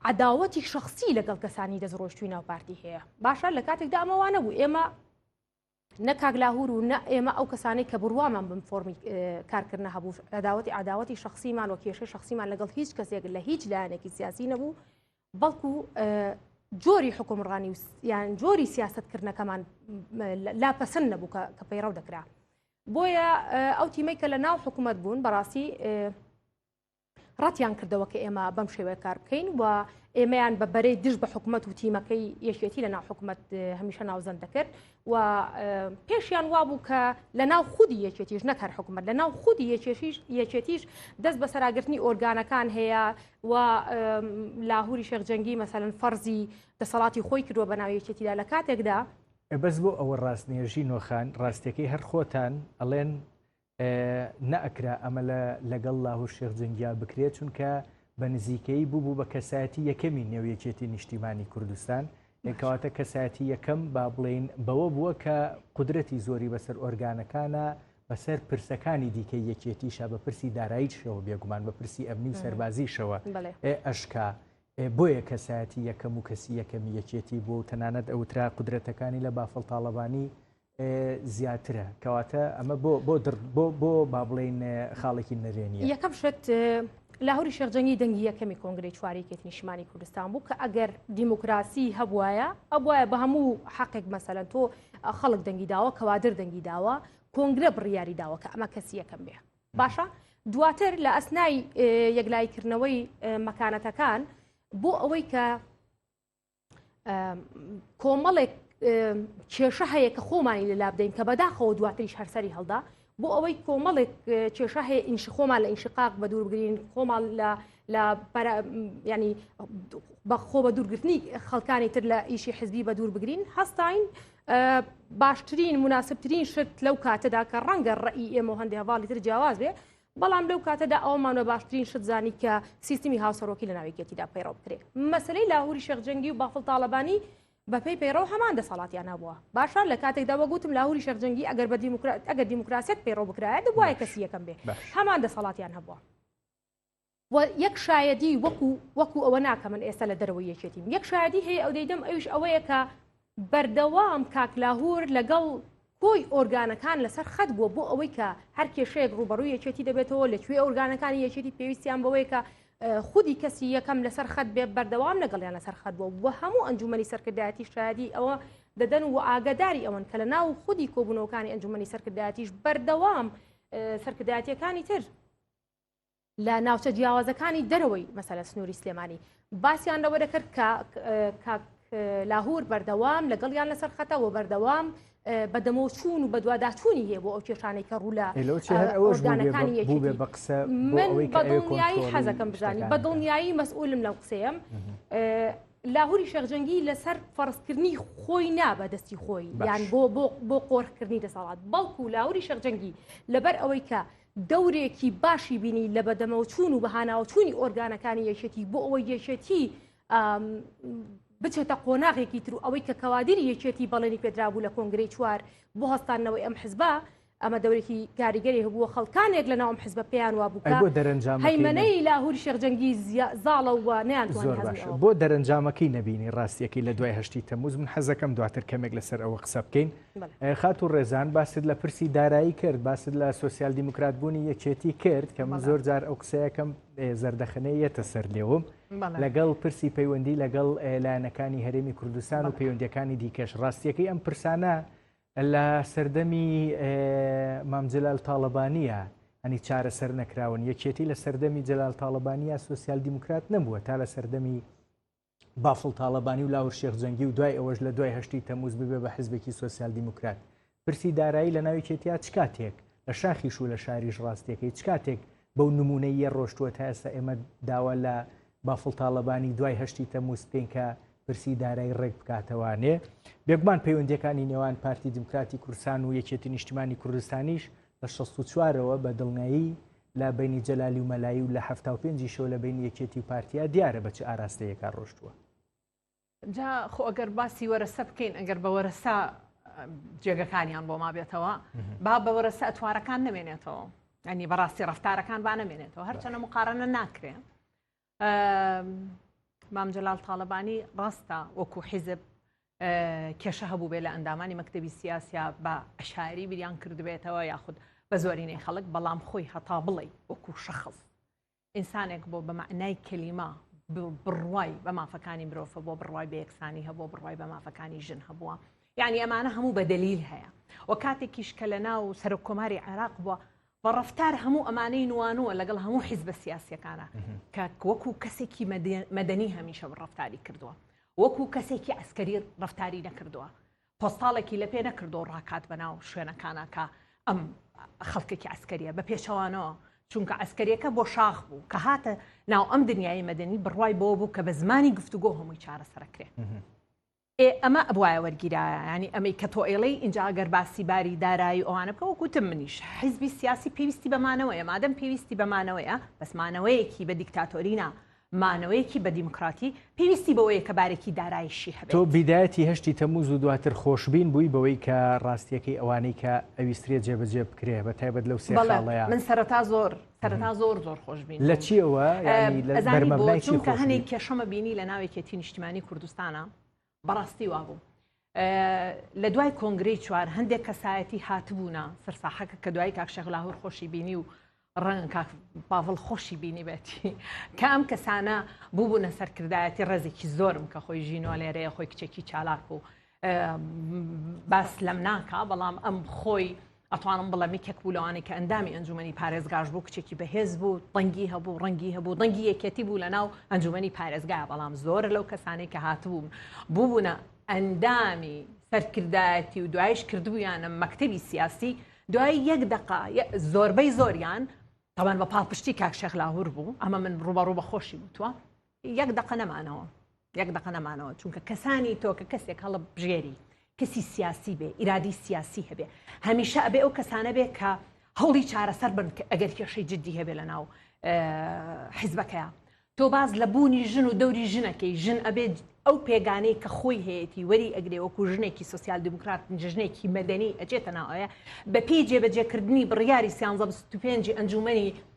عداوەتی شخصی لەگەڵ کەسانی دەستڕۆشتوی ناو پارتی هەیە باشە لە کاتێکدا ئەمەوانە بوو ئێمە نە کاگلاهور و نە ئێمە ئەو کەسانەی کە بڕوامان بم فۆمی کارکردە هەبوو عداوەتی عداوەتی شخصیمان و کێشەی شخصیمان لەگەڵ هیچ کەسێک لە هیچ لایەنێکی سیاسی نەبوو بەڵکو جۆری حکومڕانی و یان جۆری سیاستکردنەکەمان لا پەسەند نەبوو کە پەیڕەو دەکرا بۆیە ئەو تیمەی کە لە ناو حکوومەت بوون بەڕاستی ڕەتیان کردەوە کە ئێمە بەم شێوەیە کار بکەین و ئێمەیان بە بەرەی دژ بە حکوومەت و تیمەکەی یەکێتی لە ناو حکوومەت هەمیشە ناوزەند دەکرد و پێشیان وابوو کە لە ناو خودی یەکێتیش نەک هەر حکوومەت لە ناو خودی یەکێشیش یەکێتیش دەست بە سەراگرتنی ئۆرگانەکان هەیە و لاهوری شێخجەنگی مەسەن فەرزی دەسەڵاتی خۆی کردووە بە ناو یەکێتیدا لە کاتێکدا بەس بۆ ئەوە ڕاستنێژی نۆخان ڕاستەکەی هەر خۆتان ئەڵێن نەئەکرا ئەمە لەگەڵ لاهور شێخ جەنگیان بکرێت چونکە بە نزیکەی بوو بوو بە کەسایەتی یەکەمی نێو یەکێتی نیشتیمانی کوردستان کەواتە کەسایەتی یەکەم با بڵین بەوە بووە کە قدرەتی زۆری بەسەر ئۆرگانەکانە بەسەر پرسەکانی دیکەی یەکێتیشە بە پرسی داراییشەوە بێگومان بە پرسی ئەمنی و سەربازیشەوە ئەشکا بۆیە کەسایەتی یەکەم و کەسی یەکەمی یەکێتی بۆ و تەنانەت ئەوترا قدرەتەکانی لە بافڵ تاالبانی زیاترە کەواتە ئەمە بۆ بۆ بۆ بۆ با بڵین خاڵێکی نەرێنی یەکەم شت لاهوری شێخجەنگی دەنگی یەکەمی کۆنگری چواریکێت نیشمانی کوردستان بوو کە ئەگەر دیموکراسی هەبواە ئەبواە بە هەموو حقێک مەسەلەن تۆ خەڵک دەنگی داوە کەوادر دەنگی داوە کۆنگرە بڕیاری داوە کە ئەمە کەسی یەکەم بێ باشە دواتر لە ئەسنای یەکلایکردنەوەی مەکانەتەکان بۆ ئەوەی کە کۆمەڵێک کێشە هەیە کە خۆمانی لەلا بدەین کە بەداخەوە دواتریش هەرسەری هەڵدا بۆ ئەوەی کۆمەڵێک کێشە هەیە ئینش خۆمان لە ئینشقاق بە دوور بگرین خۆمان لە لە ینی بەخۆ بە دوورگرتنی خەڵکانی تر لە ئیشی حزبی بە دوور بگرین هەستین باشترین مناسبترین شت لەو کاتەدا کە ڕەنگە ڕێی ئێمە هەندێک هەواڵی تر جیاواز بێ بەڵام لەو کاتەدا ئەوەمان بە باشترین شت زانی کە سیستمی هاوسەرۆکی لە ناو یەکێتیدا پەیڕەو بکرێ مەسەلەی لاهوری شێخ جەنگی و بافڵ تاڵەبانی بەپێی پەیڕەو هەمان دەسەڵاتیان هەبووە باشە لە کاتێکدا وەگوتم لاهوری شێخ جەنگی ئەگەر بە دیموکرات ئەگەر دیموکراسیەت پەیڕەو بکرایە دەبوایە کەسی یەکەم بێ هەمان دەسەڵاتیان هەبووە و یەک شایەدی وەکو وەکو ئەوە ناکە من ئێستا لە دەرەوەی یەکێتیم یەک شایدی هەیە ئەو دەیدەم ئەوش ئەوەیە کە بەردەوام کاکلاهور لەگەڵ کۆی ئۆرگانەکان لەسەر خەت بووە بۆ ئەوەی کە هەر کێشەیەک ڕوبەڕووی یەکێتی دەبێتەوە لەکوێ ئۆرگانەکانی یەکێتی پێویستیان بەوەیە کە خودی کەسی یەکەم لەسەر خەت بێ بەردەوام لەگەڵیان لەسەر خەت بوو و هەموو ئەنجومی سەرکردایەتی شادی ئەوە دەدەن و ئاگاداری ئەوەن کە لە ناو خودی کۆبوونەوەکانی ئەنجومی سەرکردایەتیش بەردەوام سەرکردایەتەکانی تر لە ناوچە جیاوازەکانی دەرەوەی مەسەلە سنووری سلێمانی باسییان لەوە دەکرد کە کاک لاهور بەردەوام لەگەڵیان لەسەر خەتە و بەردەوام بە دەمۆچوون و بەدوواداچوونی هەیە بۆ ئەو کێشانەی کە ڕوو لە ئەوشدانەکانی یەکی بە قسە من بەدڵنیایی حەزەکەم بزانانی بەدڵنیایی مەسئولم لەم قسەیەم لاهوری شەخجەنگی لەسەر فەرزکردنی خۆی نابە دەستی خۆی یان بۆ بۆ بۆ قۆرخکردنی دەسەڵات بەڵکو لاوری شەخجەنگی لەبەر ئەوەی کە دەورێکی باشی بینی لە بەدەمەوەچوون و بەهاناوەچوونی ئۆرگانەکانی یەکێتی بۆ ئەوەی یەکێتی بچێتە قۆناغێکی تر و ئەوەی کە کەوادری یەکێتی بەڵێنی پێدرابوو لە کۆنگری چوار بۆ هەستانەوەی ئەم حزبە ئەمە دەورێکی کاریگەری هەبووە خەڵکانێک لە ناوم حزبە پێیان وا بوو بۆ دەرەنجام هەیمەەی لاهوری شێخجەنگی زاڵە و نیان بۆ دەرەنجامەکەی نبینی ڕاستیەکەی لە دوای هەشتی تەموز من حەزەکەم دواتر کەمێک لەسەر ئەوە قسە بکەین. خاتوو ڕێزان باست لە پرسی دارایی کرد باست لە سوسیال دیموکرات بوونی یەکێتی کرد کە من زۆر جار ئەو قسەیەکەم زەردەخەنەیە یەتە سەر لێوم لەگەڵ پرسی پەیوەندی لەگەڵ لایەنەکانی هەرێمی کوردستان و پەیوەندەکانی دیکەش ڕاستیەکەی ئەم پرسانە لە سەردەمی مامجلال تاالبانیە ئەنی چارەسەر نەکراون یەکێتی لە سەردەمی جلال تاالبانیە سوسیال دیموکرات نەبووە تا لە سەردەمی بافڵ تاڵەبانی و لاهور شێخ جەنگی و دوای ئەوەش لە دوای هەشتی تەموز ببێ بە حزبێکی سۆسیال دیموکرات پرسی دارایی لە ناوی کێتیا چ کاتێک لە شاخیش و لە شاریش ڕاستیەکەی چ کاتێک بەو نمونەی یە ڕۆشتووە تا ئێستا ئێمە داوا لە بافڵ تاڵەبانی دوای هەشتی تەموز بکەین کە پرسی دارایی ڕێک بکاتەوانێ بێگومان پەیوەندەکانی نێوان پارتی دیموکراتی کوردستان و یەکێتی نیشتیمانی کوردستانیش لە 64ەوە بە دڵنیایی لە بەینی جەلالی و مەلایی و لە حەفتا و پێنجی شەو لە بەینی یەکێتی و پارتیا دیارە بە چ ئاراستەیەکا ڕۆشتووە. جا خۆ ئەگەر باسی وەرەسە بکەین ئەگەر بە وەرەسە جێگەکانیان بۆ مابێتەوە با بە وەرەسە ئەتوارەکان نمێنێتەوە ئەنی بەڕاستی ڕفتارەکان با نمێنێتەوە هەرچەنە مقارنە ناکرێن. مام جەلال تاڵەبانی ڕاستە وەکو حیزب کێشە هەبوو بێ لە ئەندامانی مەکتتەبی سیاسیا بە عشاری بیریان کردبێتەوە یاخود بە زۆرینەی خەڵک بەڵام خۆی هەتا بڵێ وەکو شەخص ئینسانێک بۆ بە معنای کەلیما بڕوای بە مافەکانی مرۆڤ بۆ بڕوای بە یەکسانی هەبوو بڕوای بە مافەکانی ژن هەبووە یعنی ئەمانە هەموو بە دلیل هەیە و کاتێکیش کە لە ناو سەرۆک کۆماری عێراق بووە بە ڕەفتار هەموو ئەمانەی نوانووە لەگەڵ هەموو حیزبە سیاسیەکانە کە وەکو کەسێکی مەدەنی هەمیشە بە ڕفتاری کردووە وەکو کەسێکی ئەسکەری ڕفتاری نەکردووە پۆستاڵێکی لە پێ نەکردو ڕاکات بەناو شوێنەکانە کە ئەم خەڵکێکی ئەسکەریە بە پێچەوانەوە چونکە ئەسکەریەکە بۆ شاخ بوو کە هاتە ناو ئەم دنیای مەدەنی بڕوای بۆ بوو کە بە زمانی گفتوگۆ هەمووی چارەسەرکرێ ئێ ئەمە ئەبوایە وەرگیرایە یانی ئەمەی کە تۆ ئەیڵێی ئینجا گەر باسی باری دارایی و ئەوانە بکە وەک وتم منیش حیزبی سیاسی پێویستی بە مانەوەیە مادەم پێویستی بە مانەوەیە بەس مانەوەیەکی بە دیکتاتۆری نا مانەوەیەکی بە دیموکراتی پێویستی بەوەیە کە بارێکی دارایشی تۆ هەبێت. بیدایەتی هەشتی تەموز و دواتر خۆشبین بووی بەوەی کە ڕاستیەکەی ئەوانەی کە ئەویسترێ جێبەجێ بکرێ بە تایبەت لەو سێ بەڵێ خاڵەیا. من سەرەتا زۆر. سەرەتا زۆر زۆر خۆش بین لە چیەوە چونکە هەنێک کێشەمە بینی لە ناوێکێتی نیشتمانی کوردستانە بەڕاستی وا بوو لە دوای کۆنگری چوار هەندێک کەسایەتی هاتبوونا سەرساحەکە کە دوای کاکشێخ لاهور خۆشی بینی و ڕەنگ کاک پاڤڵ خۆشی بینی بێتی کە ئەم کەسانە بووبوونە سەرکردایەتی ڕێزێکی زۆرم کە خۆی ژینۆ لێرەیە خۆی کچێکی چالاک و باس لەم ناکا بەڵام ئەم خۆی ئەتوانم بڵێمی کەک بوو لەوانی کە ئەندامی ئەنجومی پارێزگاش بوو کچێکی بەهێز بوو دەنگی هەبوو ڕەنگی هەبوو دەنگی یەکێتی بوو لە ناو ئەنجومی پارێزگا بەڵام زۆر لەو کەسانی کە هاتبووم بووبوونە ئەندامی سەرکردایەتی و دوایش کردبوویانە مەکتتەبی سیاسی دوای یەک دقا زۆربەی زۆریان تاوان بە پاڵپشتی کاکشێخ لاهور بوو ئەمە من ڕوبەڕوو بە خۆشی وتووە یەک دەقە نەمانەوە یەک دەقە نەمانەوە چونکە کەسانی تۆ کە کەسێک هەڵە بژێری کەسی سیاسی بێ ئیرادی سیاسی هەبێ هەمیشە ئەبێ ئەو کەسانە بێ کە هەوڵی چارەسەر بن کە ئەگەر کێشەی جددی هەبێ لە ناو حیزبەکەیە تۆ باز لە بوونی ژن و دەوری ژنەکەی ژن ئەبێت ئەو پێگانەی کە خۆی هەیەی وەری ئەگرێ وەکو ژنێکی سوسیال دیموکرات ژنێکی مەدەنی ئەجێتە ناوەیە بەپی جێبەجێکردنی بڕیاری سیانزە پێنجی ئەنجومنی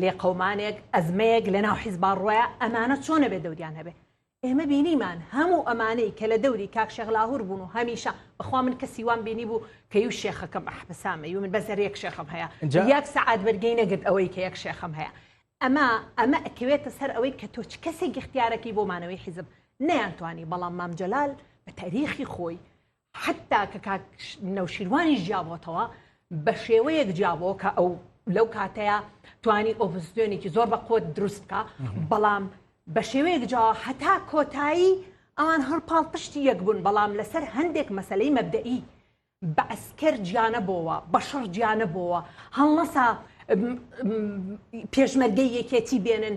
لێقەومانێک ئەزمەیەک لەناو حیزبا ڕوایە ئەمانە چۆن ئەبێ دەوریان هەبێ ئێمە بینیمان هەموو ئەمانەی کە لە دەوری کاک شێخ لاهور بوون و هەمیشە بەخوا من کەسی وام بینی بوو کە یو شێخەکەم ئەحبسامە یو من بەسەر یەک شێخم هەیە جا- یەک سەعات بەرگەی نەگرت ئەوەی کە یەک شێخم هەیە ئەما ئەمە ئەکەوێتە سەر ئەوەی کە تۆ چ کەسێک اختیارەکەی بۆ مانەوەی حیزب نەیانتوانی بەڵام مام جەلال بە تاریخی خۆی حەتتا کە کاک نەوشیروانیش جیابۆتەوە بە شێوەیەک جیابەوە کە ئەو لەو کاتەیە توانی ئۆڤزیۆنێکی زۆر بە قوت دروست بکە بەڵام بە شێوەیەک جا هەتا کۆتایی ئەوان هەڵپاڵ پشتی یەک بوون بەڵام لەسەر هەندێک مەسلەی مەبدەئی بە ئەسکەر جیانە بۆەوە بە شەڕ جیانە بۆەوە هەڵنەسا پێشمەرگەی یەکێتی بێنن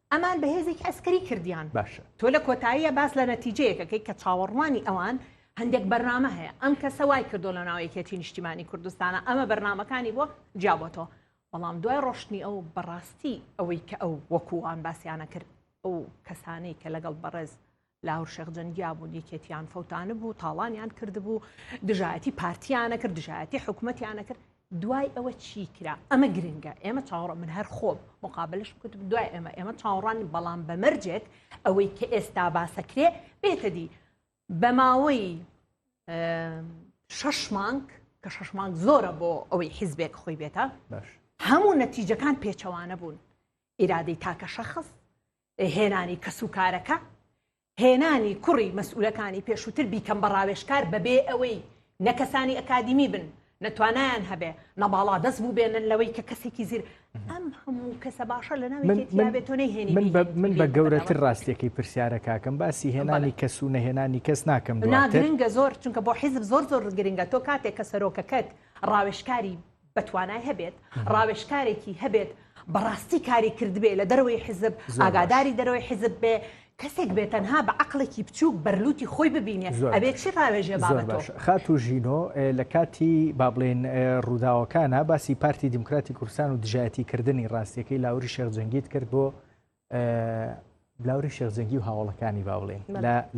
ئەمان بە هێزێکی عەسکەری کردیان. باشە تۆ لە کۆتاییا باس لە نەتیجەیەک ئەکەی کە چاوەڕوانی ئەوان هەندێک بەرنامە هەیە، ئەم کەسە وای کردووە لە ناو یەکێتی نیشتیمانی کوردستانا ئەمە بەرنامەکانی بووە جیابۆتەوە، بەڵام دوای ڕۆشتنی ئەو بە ڕاستی ئەوەی کە ئەو وەکوو وان باسیانەکرد ئەو کەسانەی کە لەگەڵ بەڕێز لاهور شێخ جەنگیابوون یەکێتیان فەوتانبوو تاڵانیان کردبوو دژایەتی پارتیانە کرد دژایەتی حکوومەتیانە کرد دوای ئەوە چی کرا ئەمە گرنگە ئێمە چاوەڕە من هەر خۆم مقابلش بکوت دوای ئێمە ئێمە چاوەڕان بەڵام بە مەرجێک ئەوەی کە ئێستا باسەکرێ بێتە دی بە ماوەی شەش مانک کە شەش مانک زۆرە بۆ ئەوەی حیزبێک خۆی بێتە هەموو نەتیجەکان پێچەوانە بوون ئیرادەی تاکە شەخص هێنانی کەسوکارەکە، هێنانی کوڕی مەسئولەکانی پێشووتر بیکەم بە ڕاوێژکار بەبێ ئەوەی نە کەسانی ئەکادیمی بن، نە توانایان هەبێ، نە باڵادەست بووبێنن لەوەی کە کەسێکی زیر. ئەم هەموو کەسە باشە لە ناوێکی تیا بێ تۆ نەیهێنی بیکەی بە کەسوکار. من بە گەورەتر ڕاستییەکەی پرسیارە کاکەم، باسی هێنانی کەس و نەهێنانی کەس ناکەم دواتر. نا گرنگە زۆر، چونکە بۆ حیزب زۆر زۆر گرنگە، تۆ کاتێک کە سەرۆکەکەت ڕاوێژکاری بەتوانای هەبێت ڕاوێشکارێکی هەبێت بەڕاستی کاری کردبێ لە دەرەوەی حزب ئاگاداری دەرەوەی حزب بێ کەسێک بێت تەنها بە عقلێکی بچووک بەرلوتی خۆی ببینێت ئەبێت چی ڕاوێژێ خات و ژینۆ لە کاتی با بڵێن ڕووداوەکانە باسی پارتی دیموکراتی کوردستان و دژایەتی کردنی ڕاستیەکەی لاوری شێخ جەنگیت کرد بۆ بلاوری شێخزەنگی و هاوڵەکانی با بڵێن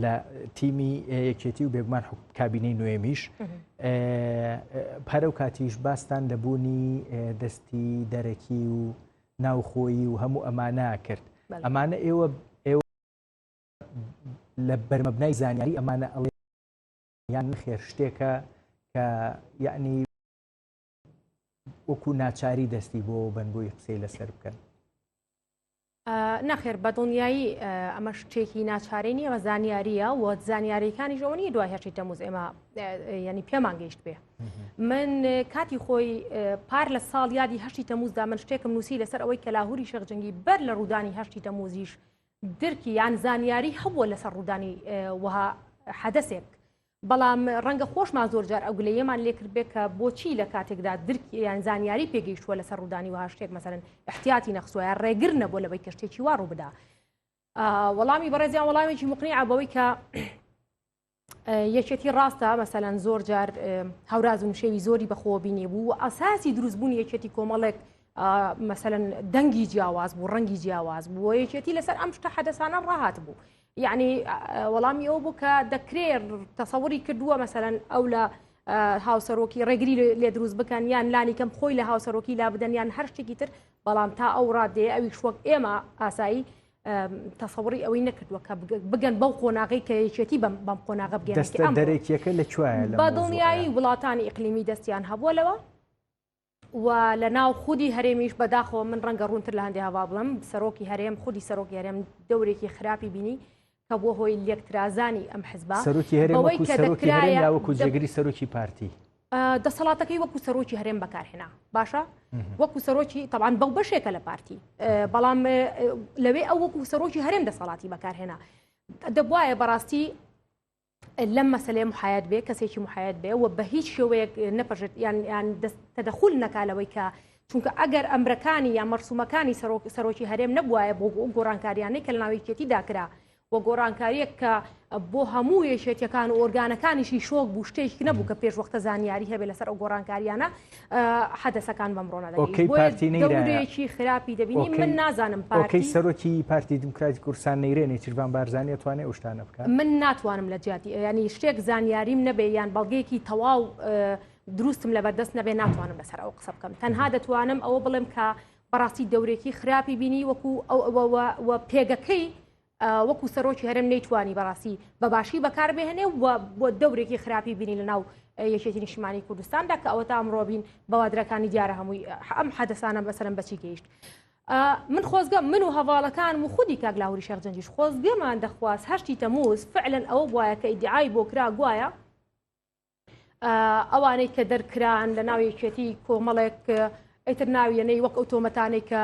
لە تیمی یەکێتی و بێگومان کابینەی نوێمیش پەرە و کاتیش باستان لە بوونی دەستی دەرەکی و ناوخۆیی و هەموو ئەمانە کرد ئەمانە ئێوە ئێوە لە بەرمەبنای زانیاری ئەمانە ئەڵێ یان خێر شتێکە کە یعنی وەکو ناچاری دەستی بۆ بن بۆی قسەی لەسەر بکەن نەخێر بە دڵنیایی ئەمە شتێکی ناچارێنی ڕە زانیاریە و زانیاریەکانی ژەوەنی دوای هەشتی تەموز ئێمە ینی پێمان گەیشت بێ من کاتی خۆی پار لە ساڵ یادی هەشتی تەموزدا من شتێکم نووسی لەسەر ئەوەی کە لاهوری شەخجنگی بەر لە ڕوودانی هەشتی تەموزیش درکی یان زانیاری هەبووە لەسەر ڕوودانی وەها حەدەسێک بەڵام ڕەنگە خۆشمان زۆر جار ئەو گلەیەمان لێکردبێت کە بۆچی لە کاتێکدا درک یان زانیاری پێگەیشتووە لەسەر ڕوودانی وها شتێک مەسەرن احتیاتی نەخسوایە ڕێگر نەبوو لەوەی کە شتێکی وا ڕوو بدا وەڵامی بەڕێزیان وەڵامێکی مقنی عبەوەی کە یەکێتی ڕاستە مەسەلەن زۆر جار هەوراز و نشێوی زۆری بەخۆ بینێ بوو و ئاساسی دروستبوونی یەکێتی کۆمەڵێک مەسەن دەنگی جیاواز بوو ڕەنگی جیاواز بووە یەکێتی لەسەر ئەم شتە حەدەسانە ڕاهات بوو یعنی وەڵامی ئەو بوو کە دەکرێ تەسەوری کردووە مەسەرەن ئەو لە هاوسەرۆکی ڕێگری لێ دروست بکەن یان لانی کەم خۆی لە هاوسەرۆکی لا بدەن یان هەر شتێکی تر بەڵام تا ئەو ڕادێ ئەوی شوەک ئێمە ئاسایی تەسەوری ئەوەی نەکردووە کە بگەن بەو قۆناغی کە یەکێتی بەم بەم قۆناغە بگەن دەرێکیەکە لە کوێ بە دڵنیایی وڵاتانی ئیقلیمی دەستیان هەبووە لەوە و لە ناو خودی هەرێمیش بەداخەوە من ڕەنگە ڕوونتر لە هەندێ هەوا بڵم سەرۆکی هەرێم خودی سەرۆکی هەرێم دەورێکی خراپی بینی کە بۆ هۆی لێکترازانی ئەم حزب سەرۆکی هەرێمەوەکو جێگری سەرۆکی پارتی دەسەڵاتەکەی وەکو سەرۆکی هەرێم بەکارهێنا باشە وەکو سەرۆکی تەوان بەو بەشێکە لە پارتی بەڵام لەوێ ئەو وەکو سەرۆکی هەرێم دەسەڵاتی بەکارهێنا دەبواە بەڕاستی لەم مەسەلەیە محایەت بێ کەسێکی محایەت بێ و بە هیچ شێوەیەک نەپەژێت یان یان تەدەخول نەکا لەوەی کە چونکە ئەگەر ئەمرەکانی یا مەرسومەکانی سەرۆک سەرۆکی هەرێم نەبواە بۆ گۆڕانکاریانەی کە ناویکێتی داکرا و گۆڕانکاریەک کە بۆ هەموو یەکێتیەکان و ئۆرگانەکانیشی شۆک بوو شتێک نەبوو کە پێش وەختە زانیاری هەبێ لەسەر ئەو گۆڕانکاریانە حەدەسەکان بەم ڕۆنە دەگەین. ئۆکەی پارتی نەیرایە. بۆیە دەورێکی خراپی دەبینین. ئۆکەی. من نازانم پارتی. ئۆکەی سەرۆکی پارتی دیموکراتی کوردستان نەیرێ نێچیرڤان بارزانی ئەتوانێ ئەو شتانە بکا؟ من ناتوانم لە جیاتی یانی شتێک زانیاریم نەبێ یان بەڵگەیەکی تەواو دروستم لە بەردەست نەبێ ناتوانم لەسەر ئەوە قسە بکەم تەنها دەتوانم ئەوە بڵێم کە بەڕاستی دەورێکی خراپی بینی وەکو ئەو ئەوە و پێگەکەی وەکو سەرۆکی هەرێم نەیتوانی بەڕاستی بەباشی بەکاربهێنێ و بۆ دەورێکی خراپی بینی لە ناو یەکێتی نیشتمانی کوردستاندا کە ئەوە تا ئەمڕۆبین بەوادرەکانی دیارە هەمووی ئەم حەدەسانە بەسەرم بەچی گەیشت. من خۆزگە من و هەواڵەکان و خودی کاک لاهوری شەخجەنجیش خۆزگەمان دەخواست هەشتی تەموز فعلەن ئەوە بواە کە ئیدعای بۆ کرا گوایە ئەوانەی کە دەرکران لە ناو یەکێتی کۆمەڵێک ئەیتر ناویێنەی وەک ئەو تۆمەتانەی کە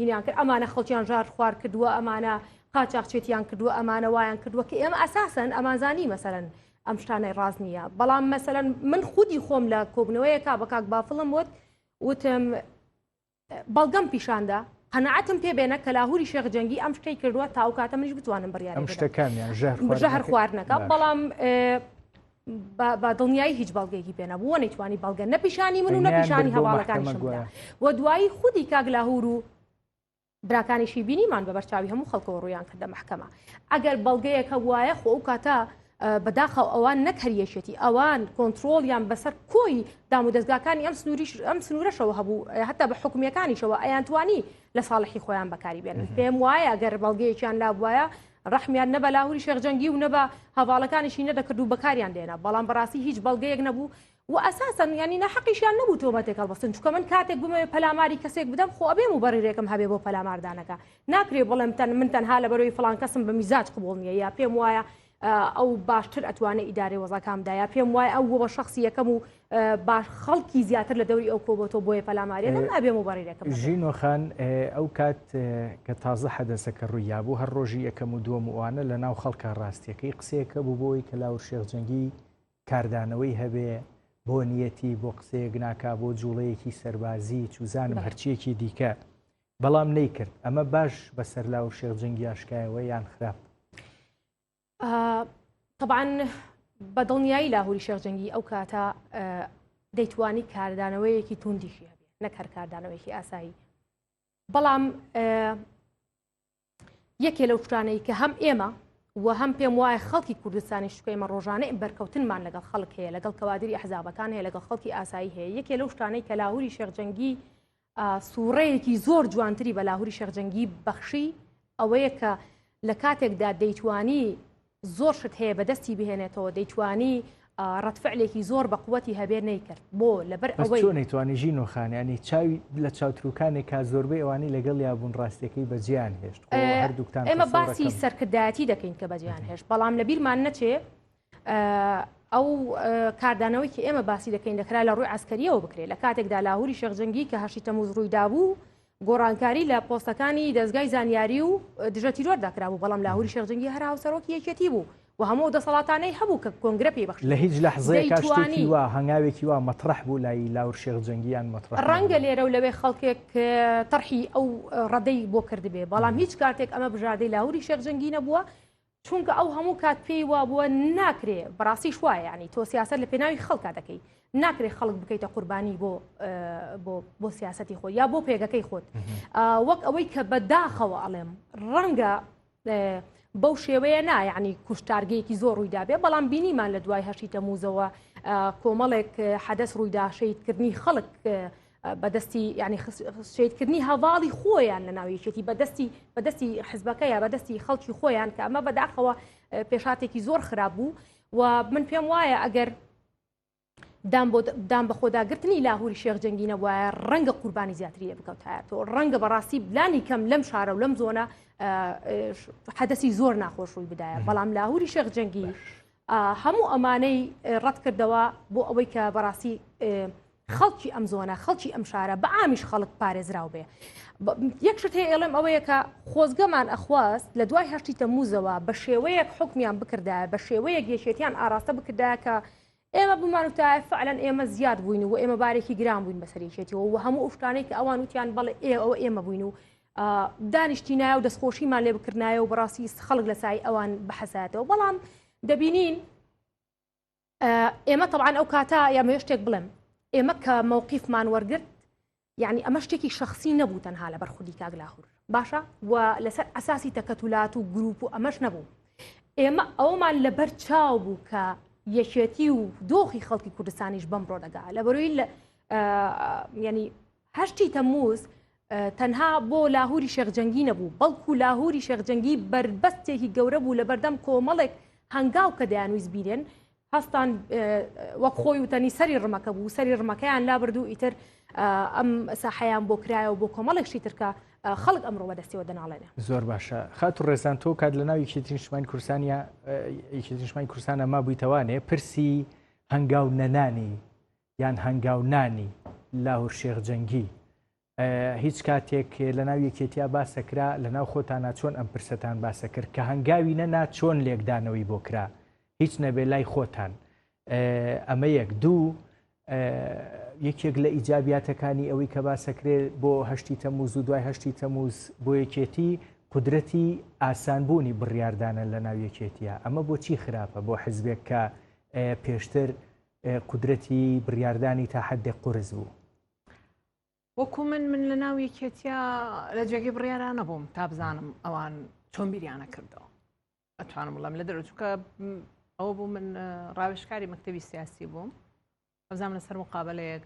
هینیان کرد ئەمانە خەڵکیان ژار خوار کردووە ئەمانە قاچاقچێتیان کردووە ئەمانە وایان کردووە کە ئێمە ئەساسن ئەمانزانی مەسەرن ئەم شتانەی ڕاز نییە بەڵام مەسەن من خودی خۆم لە کۆبنەوەیەکا بە کاک بافڵم وت وتم بەڵگەم پیشاندا قەنەعەتم پێ بێنە کە لاهوری شێخ جەنگی ئەم شتەی کردووە تا و کاتە منیش بتوانم بڕیارم شتەکانیان ژەهر خواردنەکە بەڵام بە دڵنیایی هیچ بەڵگێکی پێ نەبووە نەیتوانی بەڵگە نەپیشانی من و نەپیشانی هەواڵەکانی شمدا و دوایی خودی کاک لاهور و براکانیشی بینیمان بە بەرچاوی هەموو خەڵکەوە ڕویان کردە محکەمە ئەگەر بەڵگەیەکە وایە خۆ ئەو کاتە بەداخەوە ئەوان نەک هەر یەکێتی ئەوان کۆنتترۆڵیان بەسەر کۆی دام و دەستگاکانی ئەم سنووریش ئەم سنوورەشەوە هەبوو هەتا بە حکومیەکانیشەوە ئەیانتوانی لە ساڵحی خۆیان بەکاری بێنن پێم وایە گەر بەڵگەیەکیان لا بواە ڕحمیان نەبە لاهوری شێخجەنگی و نەبە هەواڵەکانیشی نەدەکرد و بەکاریان دێنا بەڵام بەڕاستی هیچ بەڵگەیەک نەبوو وە ئەساسەن یانی ناحەقیشیان نەبوو تۆمەتێک هەڵبەستن چونکە من کاتێک بمەوێ پەلاماری کەسێک بدەم خۆ ئەبێ موبەڕیرێکم هەبێ بۆ پەلاماردانەکە ناکرێ بڵێم تەن من تەنها لەبەرەوەی فڵان کەسم بە میزاج قبوڵ نییە یا پێم وایە ئەو باشتر ئەتوانێ ئیدارەی وەزاکام دایا پێم وای ئەو بە شخصی یەکەم و باش خەڵکی زیاتر لە دەوری ئەو کۆبەتەوە بۆیە پەلامارێ نم ئەبێ و بەڕیرەکەم ژینۆخان ئەو کات کە تازە حەدەسە کە ڕوویا بوو هەر ڕۆژی یەکەم و دووەم وانە لە ناو خەڵکە ڕاستیەکەی قسەیەکە بوو بۆی کە لاور شێخ جەنگی کاردانەوەی هەبێ بۆ نیەتی بۆ قسەیەک ناکا بۆ جوڵەیەکی سەربازی چوزانم هەرچیەکی دیکە بەڵام نەیکرد ئەمە باش بەسەر لاو شێخ جەنگی ئاشکایەوە یان خراپ طبعاان بە دڵنیایی لاهوری شێخ جەنگی ئەو کاتە دەیتوانی کاردانەوەیەکی توندیشی هەبێ نەک هەر کاردانەوەیکی ئاسایی بەڵام یەکێ لەو شتانەی کە هەم ئێمە و هەم پێم وایە خەڵکی کوردستانی شکێمە ڕۆژانەی بەرکەوتنمان لەگەڵ خەڵک هەیە لەگەڵ کەوادری ئەحزابەکان هەیە لەگەڵ خەڵکی ئاسایی هەیە یەکێ لەو شتانەی کە لاهوری شێخجەنگی سوڕەیەکی زۆر جوانتری بە لاهوری شێخجەنگی بەخشی ئەوەیە کە لە کاتێکدا دەیتوانی زۆر شت هەیە بەدەستی بهێنێتەوە دەیتوانی ڕەتفعلێکی زۆر بە قوەتی هەبێ نەیکرد بۆ لەبەر ئەوەی نەیتوانی ژین و خانیانی چاوی لە چاوتروکانێک کا زۆربەی ئەوانی لەگەڵ یابوون ڕاستەکەی بەجیان هێشت هەردووکتان ئێمە باسی سەرکردایەتی دەکەین کە بەجیان هێشت بەڵام لە بیرمان نەچێ ئەو کاردانەوەی کە ئێمە باسی دەکەین دەکرا لە ڕووی عسکەریەوە بکرێت لە کاتێکدا لاهوری شەخجەنگی کە هەشی تەموز ڕوویدابوو گۆڕانکاری لە پۆستەکانی دەزگای زانیاری و دژە تیرۆردا کرابوو بەڵام لاهوری شێخ جەنگی هەر هاوسەرۆکی یەکێتی بوو و هەموو دەسەڵاتانەی هەبوو کە کۆنگرە پێی بەخشی لە هیچ لەحزەیەکا شتێکی وا هەنگاوێکی وا مەترەح بوو لای لاور شێخ جەنگیان مەترەح ڕەنگە لێرە و لەوێ خەڵکێک تەرحی ئەو ڕەدەی بۆ کردبێ بەڵام هیچ کاتێک ئەمە بژاردەی لاوری شێخ جەنگی نەبووە چونکە ئەو هەموو کات پێی وابووە ناکرێ بەڕاستیش وایە یعنی تۆ سیاست لە پێناوی خەڵکا دەکەی ناکرێ خەڵک بکەیتە قوربانی بۆ بۆ سیاستی خۆ یا بۆ پێگەکەی خۆت وەک ئەوەی کە بەداخەوە ئەڵێم ڕەنگە بەو شێوەیە نایانی کوشتارگەیەکی زۆر ڕوویدابێ بەڵام بینیمان لە دوای هەشی تەموزەوە کۆمەڵێک حەدەس ڕوویدا شەیدکردنی خەڵک بەدەستی یعنی شەیدکردنی هەواڵی خۆیان لە ناویشێتی بەدەستی بەدەستی حزبەکە یا بەدەستی خەڵکی خۆیان کە ئەمە بەداخەوە پێشاتێکی زۆر خراپ بوو و من پێم وایە ئەگەر دام بۆ دام بە خۆداگرتنی لاهوری شێخ جەنگی نەبواە ڕەنگە قوربانی زیاتری لە بکەوتایەتەوە ڕەنگە بەڕاستی بلانی کەم لەم شارە و لەم زۆنە حەدەسی زۆر ناخۆش ڕووی بدایە بەڵام لاهوری شێخ جەنگی هەموو ئەمانەی ڕەت کردەوە بۆ ئەوەی کە بەڕاستی خەڵکی ئەم زۆنە خەڵکی ئەم شارە بە ئامیش خەڵک پارێزراو بێ یەک شت هەیە ئێڵێم ئەوەیە کە خۆزگەمان ئەخواست لە دوای هەشتی تەموزەوە بە شێوەیەک حکمیان بکردایە بە شێوەیەک یەکێتیان ئاراستە بکردایە کە ئێمە بمانوتایە فعلەن ئێمە زیاد بووین و ئێمە بارێکی گران بووین بەسەرێکێتیەوە و هەموو ئوشتانەی کە ئەوان وتیان بەڵێ ئێ ئەوە ئێمە بووین و دانیشتینایە و دەستخۆشیمان لێ بکردایە و بەڕاستی خەڵک لە سای ئەوان بحەسایەتەوە بەڵام دەبینین ئێمە تەعاان ئەو کاتە یامەوێ شتێک بڵێم ئێمە کە مەوقیفمان وەرگرت یعنی ئەمە شتێکی شخصی نەبوو تەنها لە بەرخودی کاگلاهور باشە و لەسەر ئەساسی تەکەتولات و گروپ و ئەمەش نەبوو ئێمە ئەومان لەبەر چاو بوو کە یەکێتی و دۆخی خەڵکی کوردستانیش بەم ڕۆدەگا لە بەروی لە ینی هەشتی تەموز تەنها بۆ لاهوری شێخجەنگی نەبوو بەڵکو لاهوری شێخجەنگی بەربەستێکی گەورە بوو لە بەردەم کۆمەڵێک هەنگاو کە دەیانویست بیرێن هەستان وەک خۆی وتەنی سەری ڕمەکە بوو سەری ڕمەکەیان لابردوو ئیتر ئەم ساحەیان بۆ کرایەوە بۆ کۆمەڵێکشی ترکە خەڵک ئەمڕۆ بەدەستەوە دەناڵێنێ زۆر باشە خات و ڕێزان تۆ کات لە ناوی کێتریشمانی کورسانیا کێتریشمانی کورسانە ما بوویتەوانێ پرسی هەنگاو نەنانی یان هەنگاو نانی لاهور شێخ جەنگی هیچ کاتێک لە ناو یەکێتیا باسەکرا لە ناو خۆتانە چۆن ئەم پرسەتان باسە کرد کە هەنگاوی نەنا چۆن لێکدانەوەی بۆ کرا هیچ نەبێ لای خۆتان ئەمە یەک دوو یەکێک لە ئیجاباتەکانی ئەوەی کە باسەکرێت بۆ هەشتی تەموز و دوای هەشتی تەموز بۆ یەکێتی قدرەتی ئاسانبوونی بڕاردانە لە ناو یەکێتیە ئەمە بۆچی خراپە بۆ حزبێک کە پێشتر قودرەتی بڕیاردانی تا حەدێک قورس بوو. وەکو من من لە ناو یەکێتیە لە جێگەی بڕیارا نەبووم تا بزانم ئەوان چۆن بیریانە کردەوە ئەتوانم بڵم لە دەرچووکە ئەوە بوو من ڕاوشکاری مەکتتەبی سیاسی بووم ئەزانام لەسەر مقابلەیەک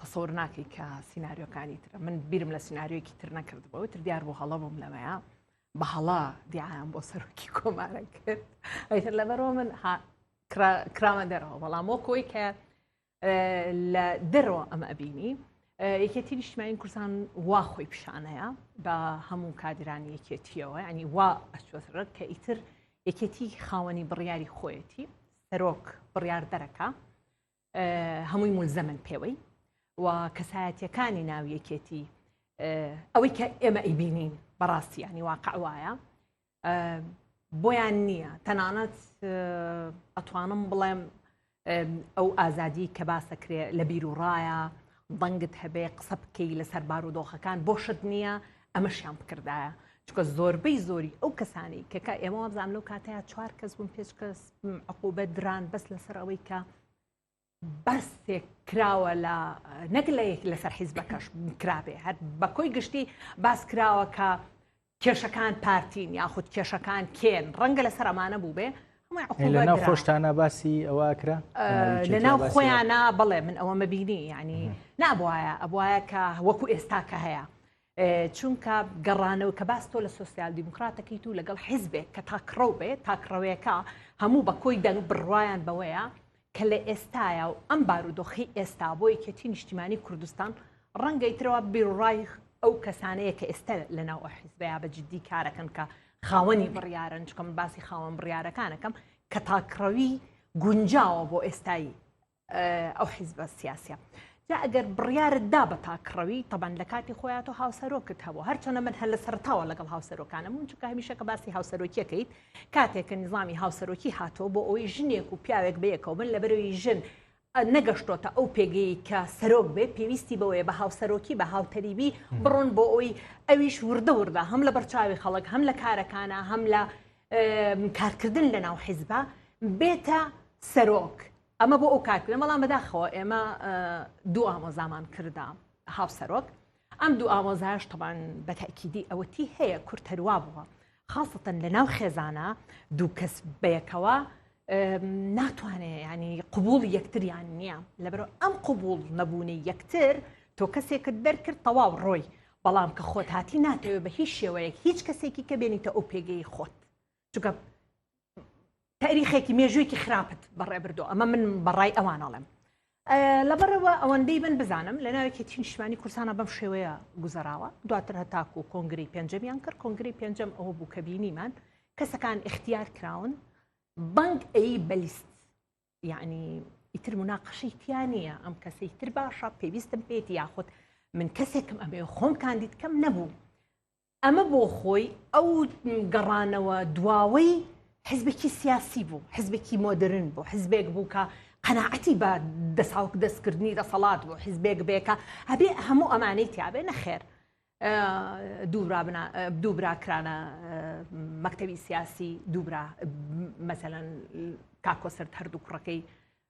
تەسەور ناکەی کە سیناریۆکانی ترە من بیرم لە سیناریۆکی تر نەکردبەوە تر دیار بۆ هەڵە بووم لەوەیە بە هەڵا دیعام بۆ سەرۆکی کۆمارە کرد ئەیتر لەبەرەوە من کراوە دەرەوە بەڵام بۆ کۆی کە لە دەرەوە ئەمە ئەبینی یەکێتی نیشتمانی کوردستان وا خۆی پیشانەیە بە هەموو کادرانی یەکێتیەوە ینی وا ئەچۆسرەت کە ئیتر یەکێتی خاوەنی بڕیاری خۆیەتی سەرۆک بڕیار دەرەکە هەمووی مولزەمن پێوەی و کەسایەتیەکانی ناو یەکێتی ئەوەی کە ئێمە ئەیبینین بەڕاستیانی واقع وایە بۆیان نییە تەنانەت ئەتوانم بڵێم ئەو ئازادی کە باسەکرێ لە بیر و ڕایە دەنگت هەبێ قسە بکەی لەسەر بارودۆخەکان بۆشت نییە ئەمەشیان بکردایە چکە زۆربەی زۆری ئەو کەسانی کەکە ئێمە وابزانام لەو کاتەیە چوار کەس بوون پێچ کەس عقوبە دران بەس لەسەر ئەوەی کە بەستێک کراوە لە نەک لە یەک لەسەر حیزبەکەش کرابێ هەر بە کۆی گشتی باس کراوە کە کێشەکان پارتین یاخود کێشەکان کێن ڕەنگە لەسەر ئەمانە بووبێ لەناو خۆشتانە باسی ئەوە کرا لەناو خۆیانە بڵێ من ئەوە مەبینی ینی نابواە ئەبواە کە وەکو ئێستا کە هەیە چونکە گەڕانەوە کە باس تۆ لە سوسیال دیموکراتەکەیت و لەگەڵ حیزبێک کە تاکڕەو بێت تاکڕەوەیەەکە هەموو بە کۆی دەنگ بڕواان بەوەیە کە لە ئێستایە و ئەم بارودۆخەی ئێستا بۆ یەکێتی نیشتیمانی کوردستان ڕەنگە ئیترەوە بیروڕای ئەو کەسانەیە کە ئێستا لە ناو ئەو حیزبەیە بە جددی کارەکەن کە خاوەنی بڕیارن چکە من باسی خاوەن بڕیارەکانەکەم کە تاکڕەوی گونجاوە بۆ ئێستای ئەو حیزبە سیاسە جا ئەگەر بڕیارت دا بە تاکڕەوی، تەبعەن لە کاتی خۆیا تۆ هاوسەرۆکت هەبوو، هەرچەندە من هەر لە سەرەتاوە لەگەڵ هاوسەرۆکانم بووم، چونکە هەمیشە کە باسی هاوسەرۆکی ئەکەیت، کاتێک کە نیزامی هاوسەرۆکی هاتووە بۆ ئەوەی ژنێک و پیاوێک بەیەکەوە بن، لەبەرئەوەی ژن نەگەشتۆتە ئەو پێگەیەی کە سەرۆک بێت، پێویستی بەوەیە بە هاوسەرۆکی، بە هاوتەریبی بڕۆن بۆ ئەوەی ئەویش وردە وردە هەم لە بەرچاوی خەڵک، هەم لە کارەکانا، هەم لە کارکردن لەناو حیزبا بێتە سەرۆک. ئەمە بۆ ئەو کارکردن بەڵام بەداخەوە ئێمە دوو ئامۆزامان کردە هاوسەرۆک ئەم دوو ئامۆزاش تەبان بەتەکیدی ئەوەتی هەیە کورتەروا بووە خاستن لە ناو خێزانە دوو کەس بەیەکەوە ناتوانێ ینی قوبول یەکتریان نییە لەبەر ئەم قوبول نەبوونی یەکتر تۆ کەسێکت دەرکرد تەواو ڕۆی بەڵام کە خۆت هاتی ناتەوێت بە هیچ شێوەیەک هیچ کەسێکی کە بێنیتە ئەو پێگەی خۆت چونکە تاریخێکی مێژوویەکی خراپت بەڕێبردو ئەمە من بەڕای ئەوانەڵێم لەبەرەوە ئەوەندەی من بزانم لە ناوێکی تینشمانی کورسانە بەم شێوەیە گوزەراوە دواتر هەتاکو و کۆنگری پێنجەمیان کرد کۆنگری پێنجەم ئەوە بوو کە بینیمان کەسەکان اختیار کراون بەنگ ئەی بەلیست یعنی ئیتر مناقەشەی تیا نییە ئەم کەسەی تر باشە پێویستم پێێتی یاخود من کەسێکم ئەبێ خۆم کاندید کەم نەبوو ئەمە بۆ خۆی ئەو گەڕانەوە دواوەی حزبێکی سیاسی بوو حزبێکی مۆدرن بۆ حزبێک بوو کە قەنەعەتی بە دەساوک دەستکردنی دەسەڵات بۆ حزبێک بێکە هەبێ هەموو ئەمانەی تیاابێ نەخێر دووبرا کرانە مەکتەوی سیاسی دووبرا مەسەەن کاکۆسرد هەردوو کوڕەکەی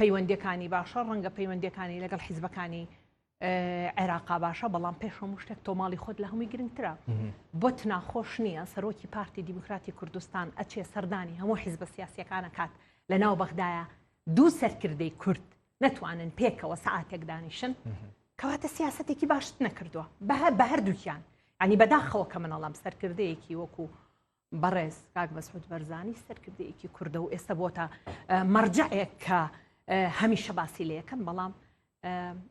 پەیوەندیەکانی باشە ڕەنگە پەیوەندیەکانی لەگەڵ حیزبەکانی عێراقا باشە بەڵام پێش هەموو شتێک تۆماڵی خۆت لە هەمووی گرنگترە بۆت ناخۆش نییە سەرۆکی پارتی دیموکراتی کوردستان ئەچێ سەردانی هەموو حیزبە سیاسەکانە کات لە ناو بەغدایە دوو سەرکردەی کورد نەتوانن پێکەوە سعاتێک دانیشن کەواتە سیاستێکی باشت نەکردووە بە بە هەردووکیان ئەنی بەداخەوە کە منەڵام سەرکردەیەکی وەکو بەڕێز کاک مەسعود بەرزانی سەرکردەیەکی کوردە و ئێستا بۆتە مەرجەیەک کە هەمیشە باسی لە یەکەم بەڵام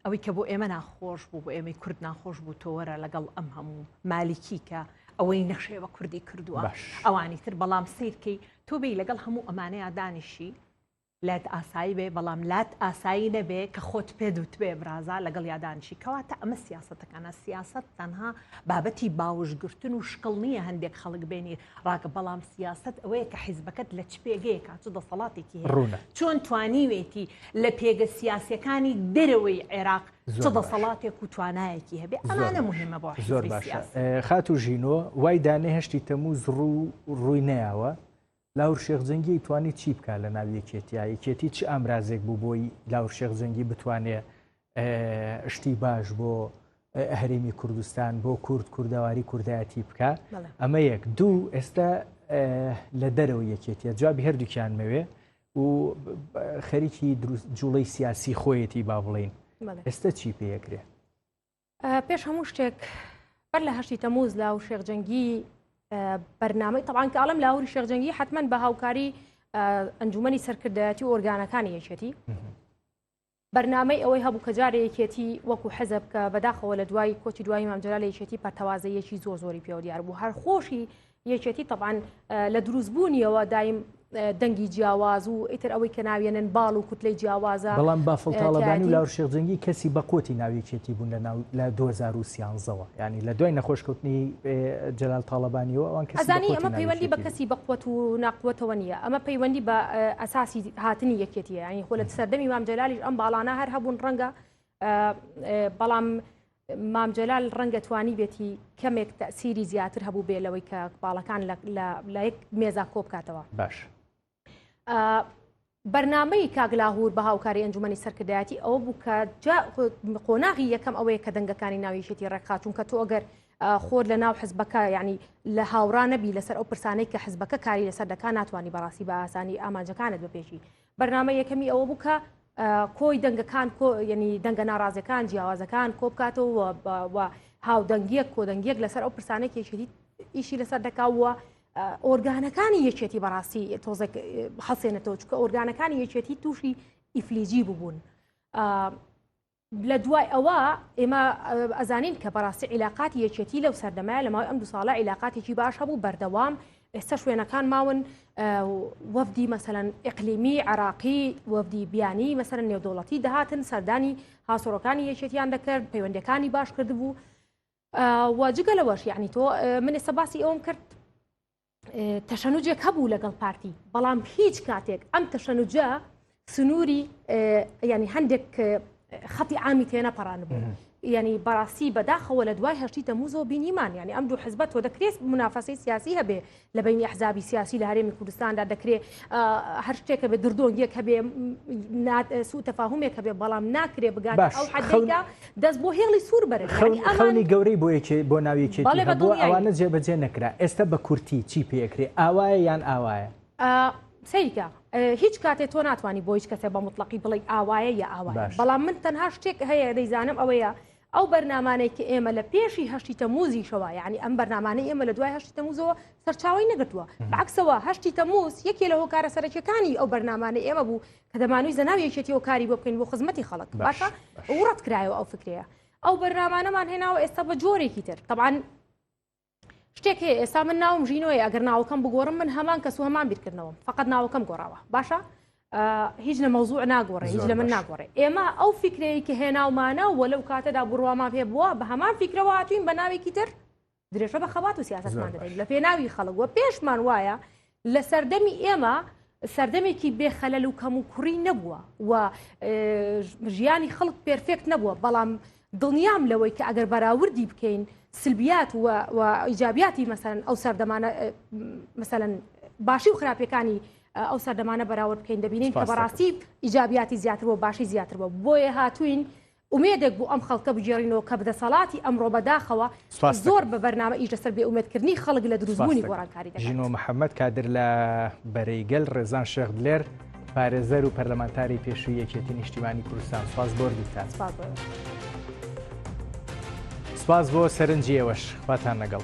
ئەوەی کە بۆ ئێمە ناخۆش بوو بۆ ئێمەی کورد ناخۆش بوو تۆوەرە لەگەڵ ئەم هەموو مالیکی کە ئەوەی نەخشێ بە کوردی کردووە ئەوانی تر بەڵام سیرکەی تۆبی لەگەڵ هەموو ئەمانەیە دانیشی لات ئاسایی بێ بەڵام لات ئاسایی نەبێ کە خۆت پێ دوتبێ برازا لەگەڵ یادانشی کەواتە ئەمە سیاسەتەکانە سیاسەت تەنها بابەتی باوشگرتن و شکڵ نییە هەندێک خەڵک بێنی ڕاکە بەڵام سیاست ئەوەیە کە حیزبەکەت لە چ پێگەیە کات و دەسەڵاتێکی ڕوونە چۆن توانیوێتی لە پێگە سیاسەکانی دەرەوەی عێراق چ دەسەڵاتێک و توانایەکی هەبێ ئەمانە مهمە بۆ زۆر باشە خات و ژینۆ وای دانێهشتی تەموو زڕوو ڕووی نەیەوە لاهور شێخ جەنگی توانی چی بکا لە ناو یەکێتیا یەکێتی چ ئامرازێک بوو بۆی لاهور شێخ جەنگی بتوانێ شتی باش بۆ هەرێمی کوردستان بۆ کورد کوردەواری کوردایەتی بکە ئەمە یەک دوو ئێستا لە دەرەوە یەکێتیە جوابی هەردووکیان مەوێ و خەریکی جوڵەی سیاسی خۆیەتی با بڵین ئێستا چی پێەکرێ پێش هەموو شتێک بەر لە هەشتی تەموز لا و شێخجەنگی بەرنامەی تەوان کاڵم لاهوری شێخجەنگی حتمما بە هاوکاری ئەنجومی سەرکردایەتی و ئۆرگانەکانی یەکێتی بەرنمەی ئەوەی هەبوو کە جارە یەکێتی وەکو حەزب کە بەداخەوە لە دوای کۆچی دوای مامجرا لە یەکێتی پەرتەوازە یەکی زۆر زۆری پێوە دیار بوو هەر خۆشی یەکێتی تەبان لە دروست بوونیەوە دایم دەنگی جیاواز و ئیتر ئەوەی کە ناوێنن باڵ و کوتلەی جیاوازە بەڵام بافڵتاڵەبانی لاور شێخجەنگی کەسی بەقوتی ناویەکێتی بوون لە ناو لە 2013ەوە ینی لە دوای نەخۆشکەوتنی جلال تاالبانیەوە ئەوان کەسانی ئەمە پەیوەندی بە کەسی بەقوت و ناقوتەوە نیە ئەمە پەیوەندی بە ئەساسی هاتنی یەکێتی ینی خۆ لە سەردەمی مام جلالیش ئەم باڵانە هەر هەبوون ڕەنگە بەڵام مام جەلال ڕەنگە توانیبێتی کەمێک تەسیری زیاتر هەبوو بێ لەوەی کە باڵەکان لە یەک مێزا کۆبکاتەوە باش بەرنمەی کاگلاهور بە هاوکاری ئەنجومی سەرکردایەتی ئەوە بوو کە قۆناغی یەکەم ئەوەیە کە دەنگەکانی ناویشێتی ڕێکخاتون کە تۆ ئەگەر خۆر لە ناو حزبەکە ینی لە هاوڕانەبی لەسەر ئەو پرسانەی کە حزبەکە کاری لەسەر دەکە ناتوانانی بەڕاستی بە ئاسانی ئامانجەکانت بەپێشی بەرنامە یەکەمی ئەوە بوو کە کۆی دەنگەکان ینی دەنگە ناڕازەکان جیاوازەکان کۆ بکاتەوە هاودەنگیەک کۆدەنگیەک لەسەر ئەو پرسانێک یەکێتی ئیشی لەسەر دەکاوە ئۆرگانەکانی یەکێتی بەڕاستی تۆزێک حەسێنێتەوە چکە ئۆرگانەکانی یەکێتی تووشی ئیفلیجی ببوون. لە دوای ئەوە ئێمە ئەزانین کە بەڕاستی عیلاقاتی یەکێتی لەو سەردەمای لە ماوەی ئەم دو ساڵە عیلاقاتێکی باش هەبوو بەردەوام ئێستا شوێنەکان ماون وەفدی مەسەەن ئەقلیمی عراقی وەفدی بیانی مەسەر نێودوڵەتی دەهاتن سەردانی هاسۆڕەکانی یەکێتیان دەکرد پەیوەندەکانی باش کردبوو واجگە لەوەش یعنی تۆ من ئێستا باسی ئەوم کرد تەشەنوجێک هەبوو لەگەڵ پارتی بەڵام هیچ کاتێک ئەم تەشەنوجە سنووری ینی هەندێک خەتی ئامی تێنە پەڕان بوو ینی بەڕاستی بەداخەوە لە دوای هەشتی تەموزۆ بینیمان ینی ئەم دوو حزبەت تۆ دەکرێت منافەسی سیاسی هەبێ لە بینی حزابی سیاسی لە هەرێمی کوردستاندا دەکرێت هەر شتێکە بە دردۆنگیەک هەبێ سوو تەفاهمێک هەبێ بەڵام ناکرێ بگات ئەو حەدەیدا دەست بۆ هێڵی سوور بەرن یانی ئەمان. خەونی گەورەی بۆ یەکێ بۆ ناو یەکێتی بەڵێ هەبووە بەدڵنیایی. ئەوانە جێ بەجێ نەکرا ئێستا بە کورتی چی پێ ئەکرێ ئاوایە یان ئاوایە؟ ئا سەیری کە هیچ کاتێ تۆ ناتوانی بۆ هیچ کەسێ بە موتڵەقی بڵێی ئاوایە یا ئاوایە باش. بەڵام من تەنها شتێک هەیە دەیزانم ئەوەیە ئەو بەرنامانەی کە ئێمە لە پێشی هەشتی تەموزیشەوە یانی ئەم بەرنامانەی ئێمە لە دوای هەشتی تەموزەوە سەرچاوەی نەگرتووە بەعەکسەوە هەشتی تەموز یەکێ لە هۆکارە سەرەکیەکانی ئەو بەرنامانەی ئێمە بوو کە دەمانوی زەناو یەکێتیەوە کاری بۆ بکەین بۆ خزمەتی خەڵک باشە ئەو ڕەت کرایەوە ئەو فکرەیە ئەو بەرنامانەمان هێناوە ئێستا بە جۆرێکی تر طبعاان شتێک هەیە ئێستا من ناوم ژینۆی ئەگەر ناوکەم بگۆڕم من هەمان کەس و هەمان بیرکردنەوە فقط ناوکەم گۆڕاوە باشە هیچ لە مەوزوع ناگۆڕێ هیچ لە من ناگۆڕێ ئێمە ئەو فکرەیە کە هێناومانە وە لەو کاتەدا بڕوامان پێ بووە بە هەمان فکرەوە هاتوین بە ناوێکی تر درێژە بە خەبات و سیاستمان دەدەین لە پێناوی خەڵک وە پێشمان وایە لە سەردەمی ئێمە سەردەمێکی بێخەلەل و کەم و کوڕی نەبووە و ژیانی خەڵک پرفێکت نەبووە بەڵام دڵنیام لەوەی کە ئەگەر بەراوردی بکەین سلبیات و ئیجابیاتی مەسەن ئەو سەردەمانە مەسەن باشی و خراپەکانی ئەو سەردەمانە بەراورد بکەین دەبینین کە بەڕاستی ئیجابیاتی زیاتر بۆ باشی زیاتر بۆ بۆیە هاتوین ئومێدێک بۆ ئەم خەڵکە بگێڕینەوە کە دەسەڵاتی ئەمڕۆ بەداخەوە زۆر بە بەرنامە ئیش لەسەر بێ ئومێد کردنی خەڵک لە دروست بوونی گۆڕانکاری دەکات. ژینۆ محەمەد کادر لە بەرەی گەل، ڕێزان شێخ دلێر پارێزەر و پەرلەمانتاری پێشووی یەکێتی نیشتیمانی کوردستان سپاس بۆ هەردووکتان. سپاس بۆ ئێوەش. سپاس بۆ سەرنجی ئێوەش. خواتان لەگەڵ.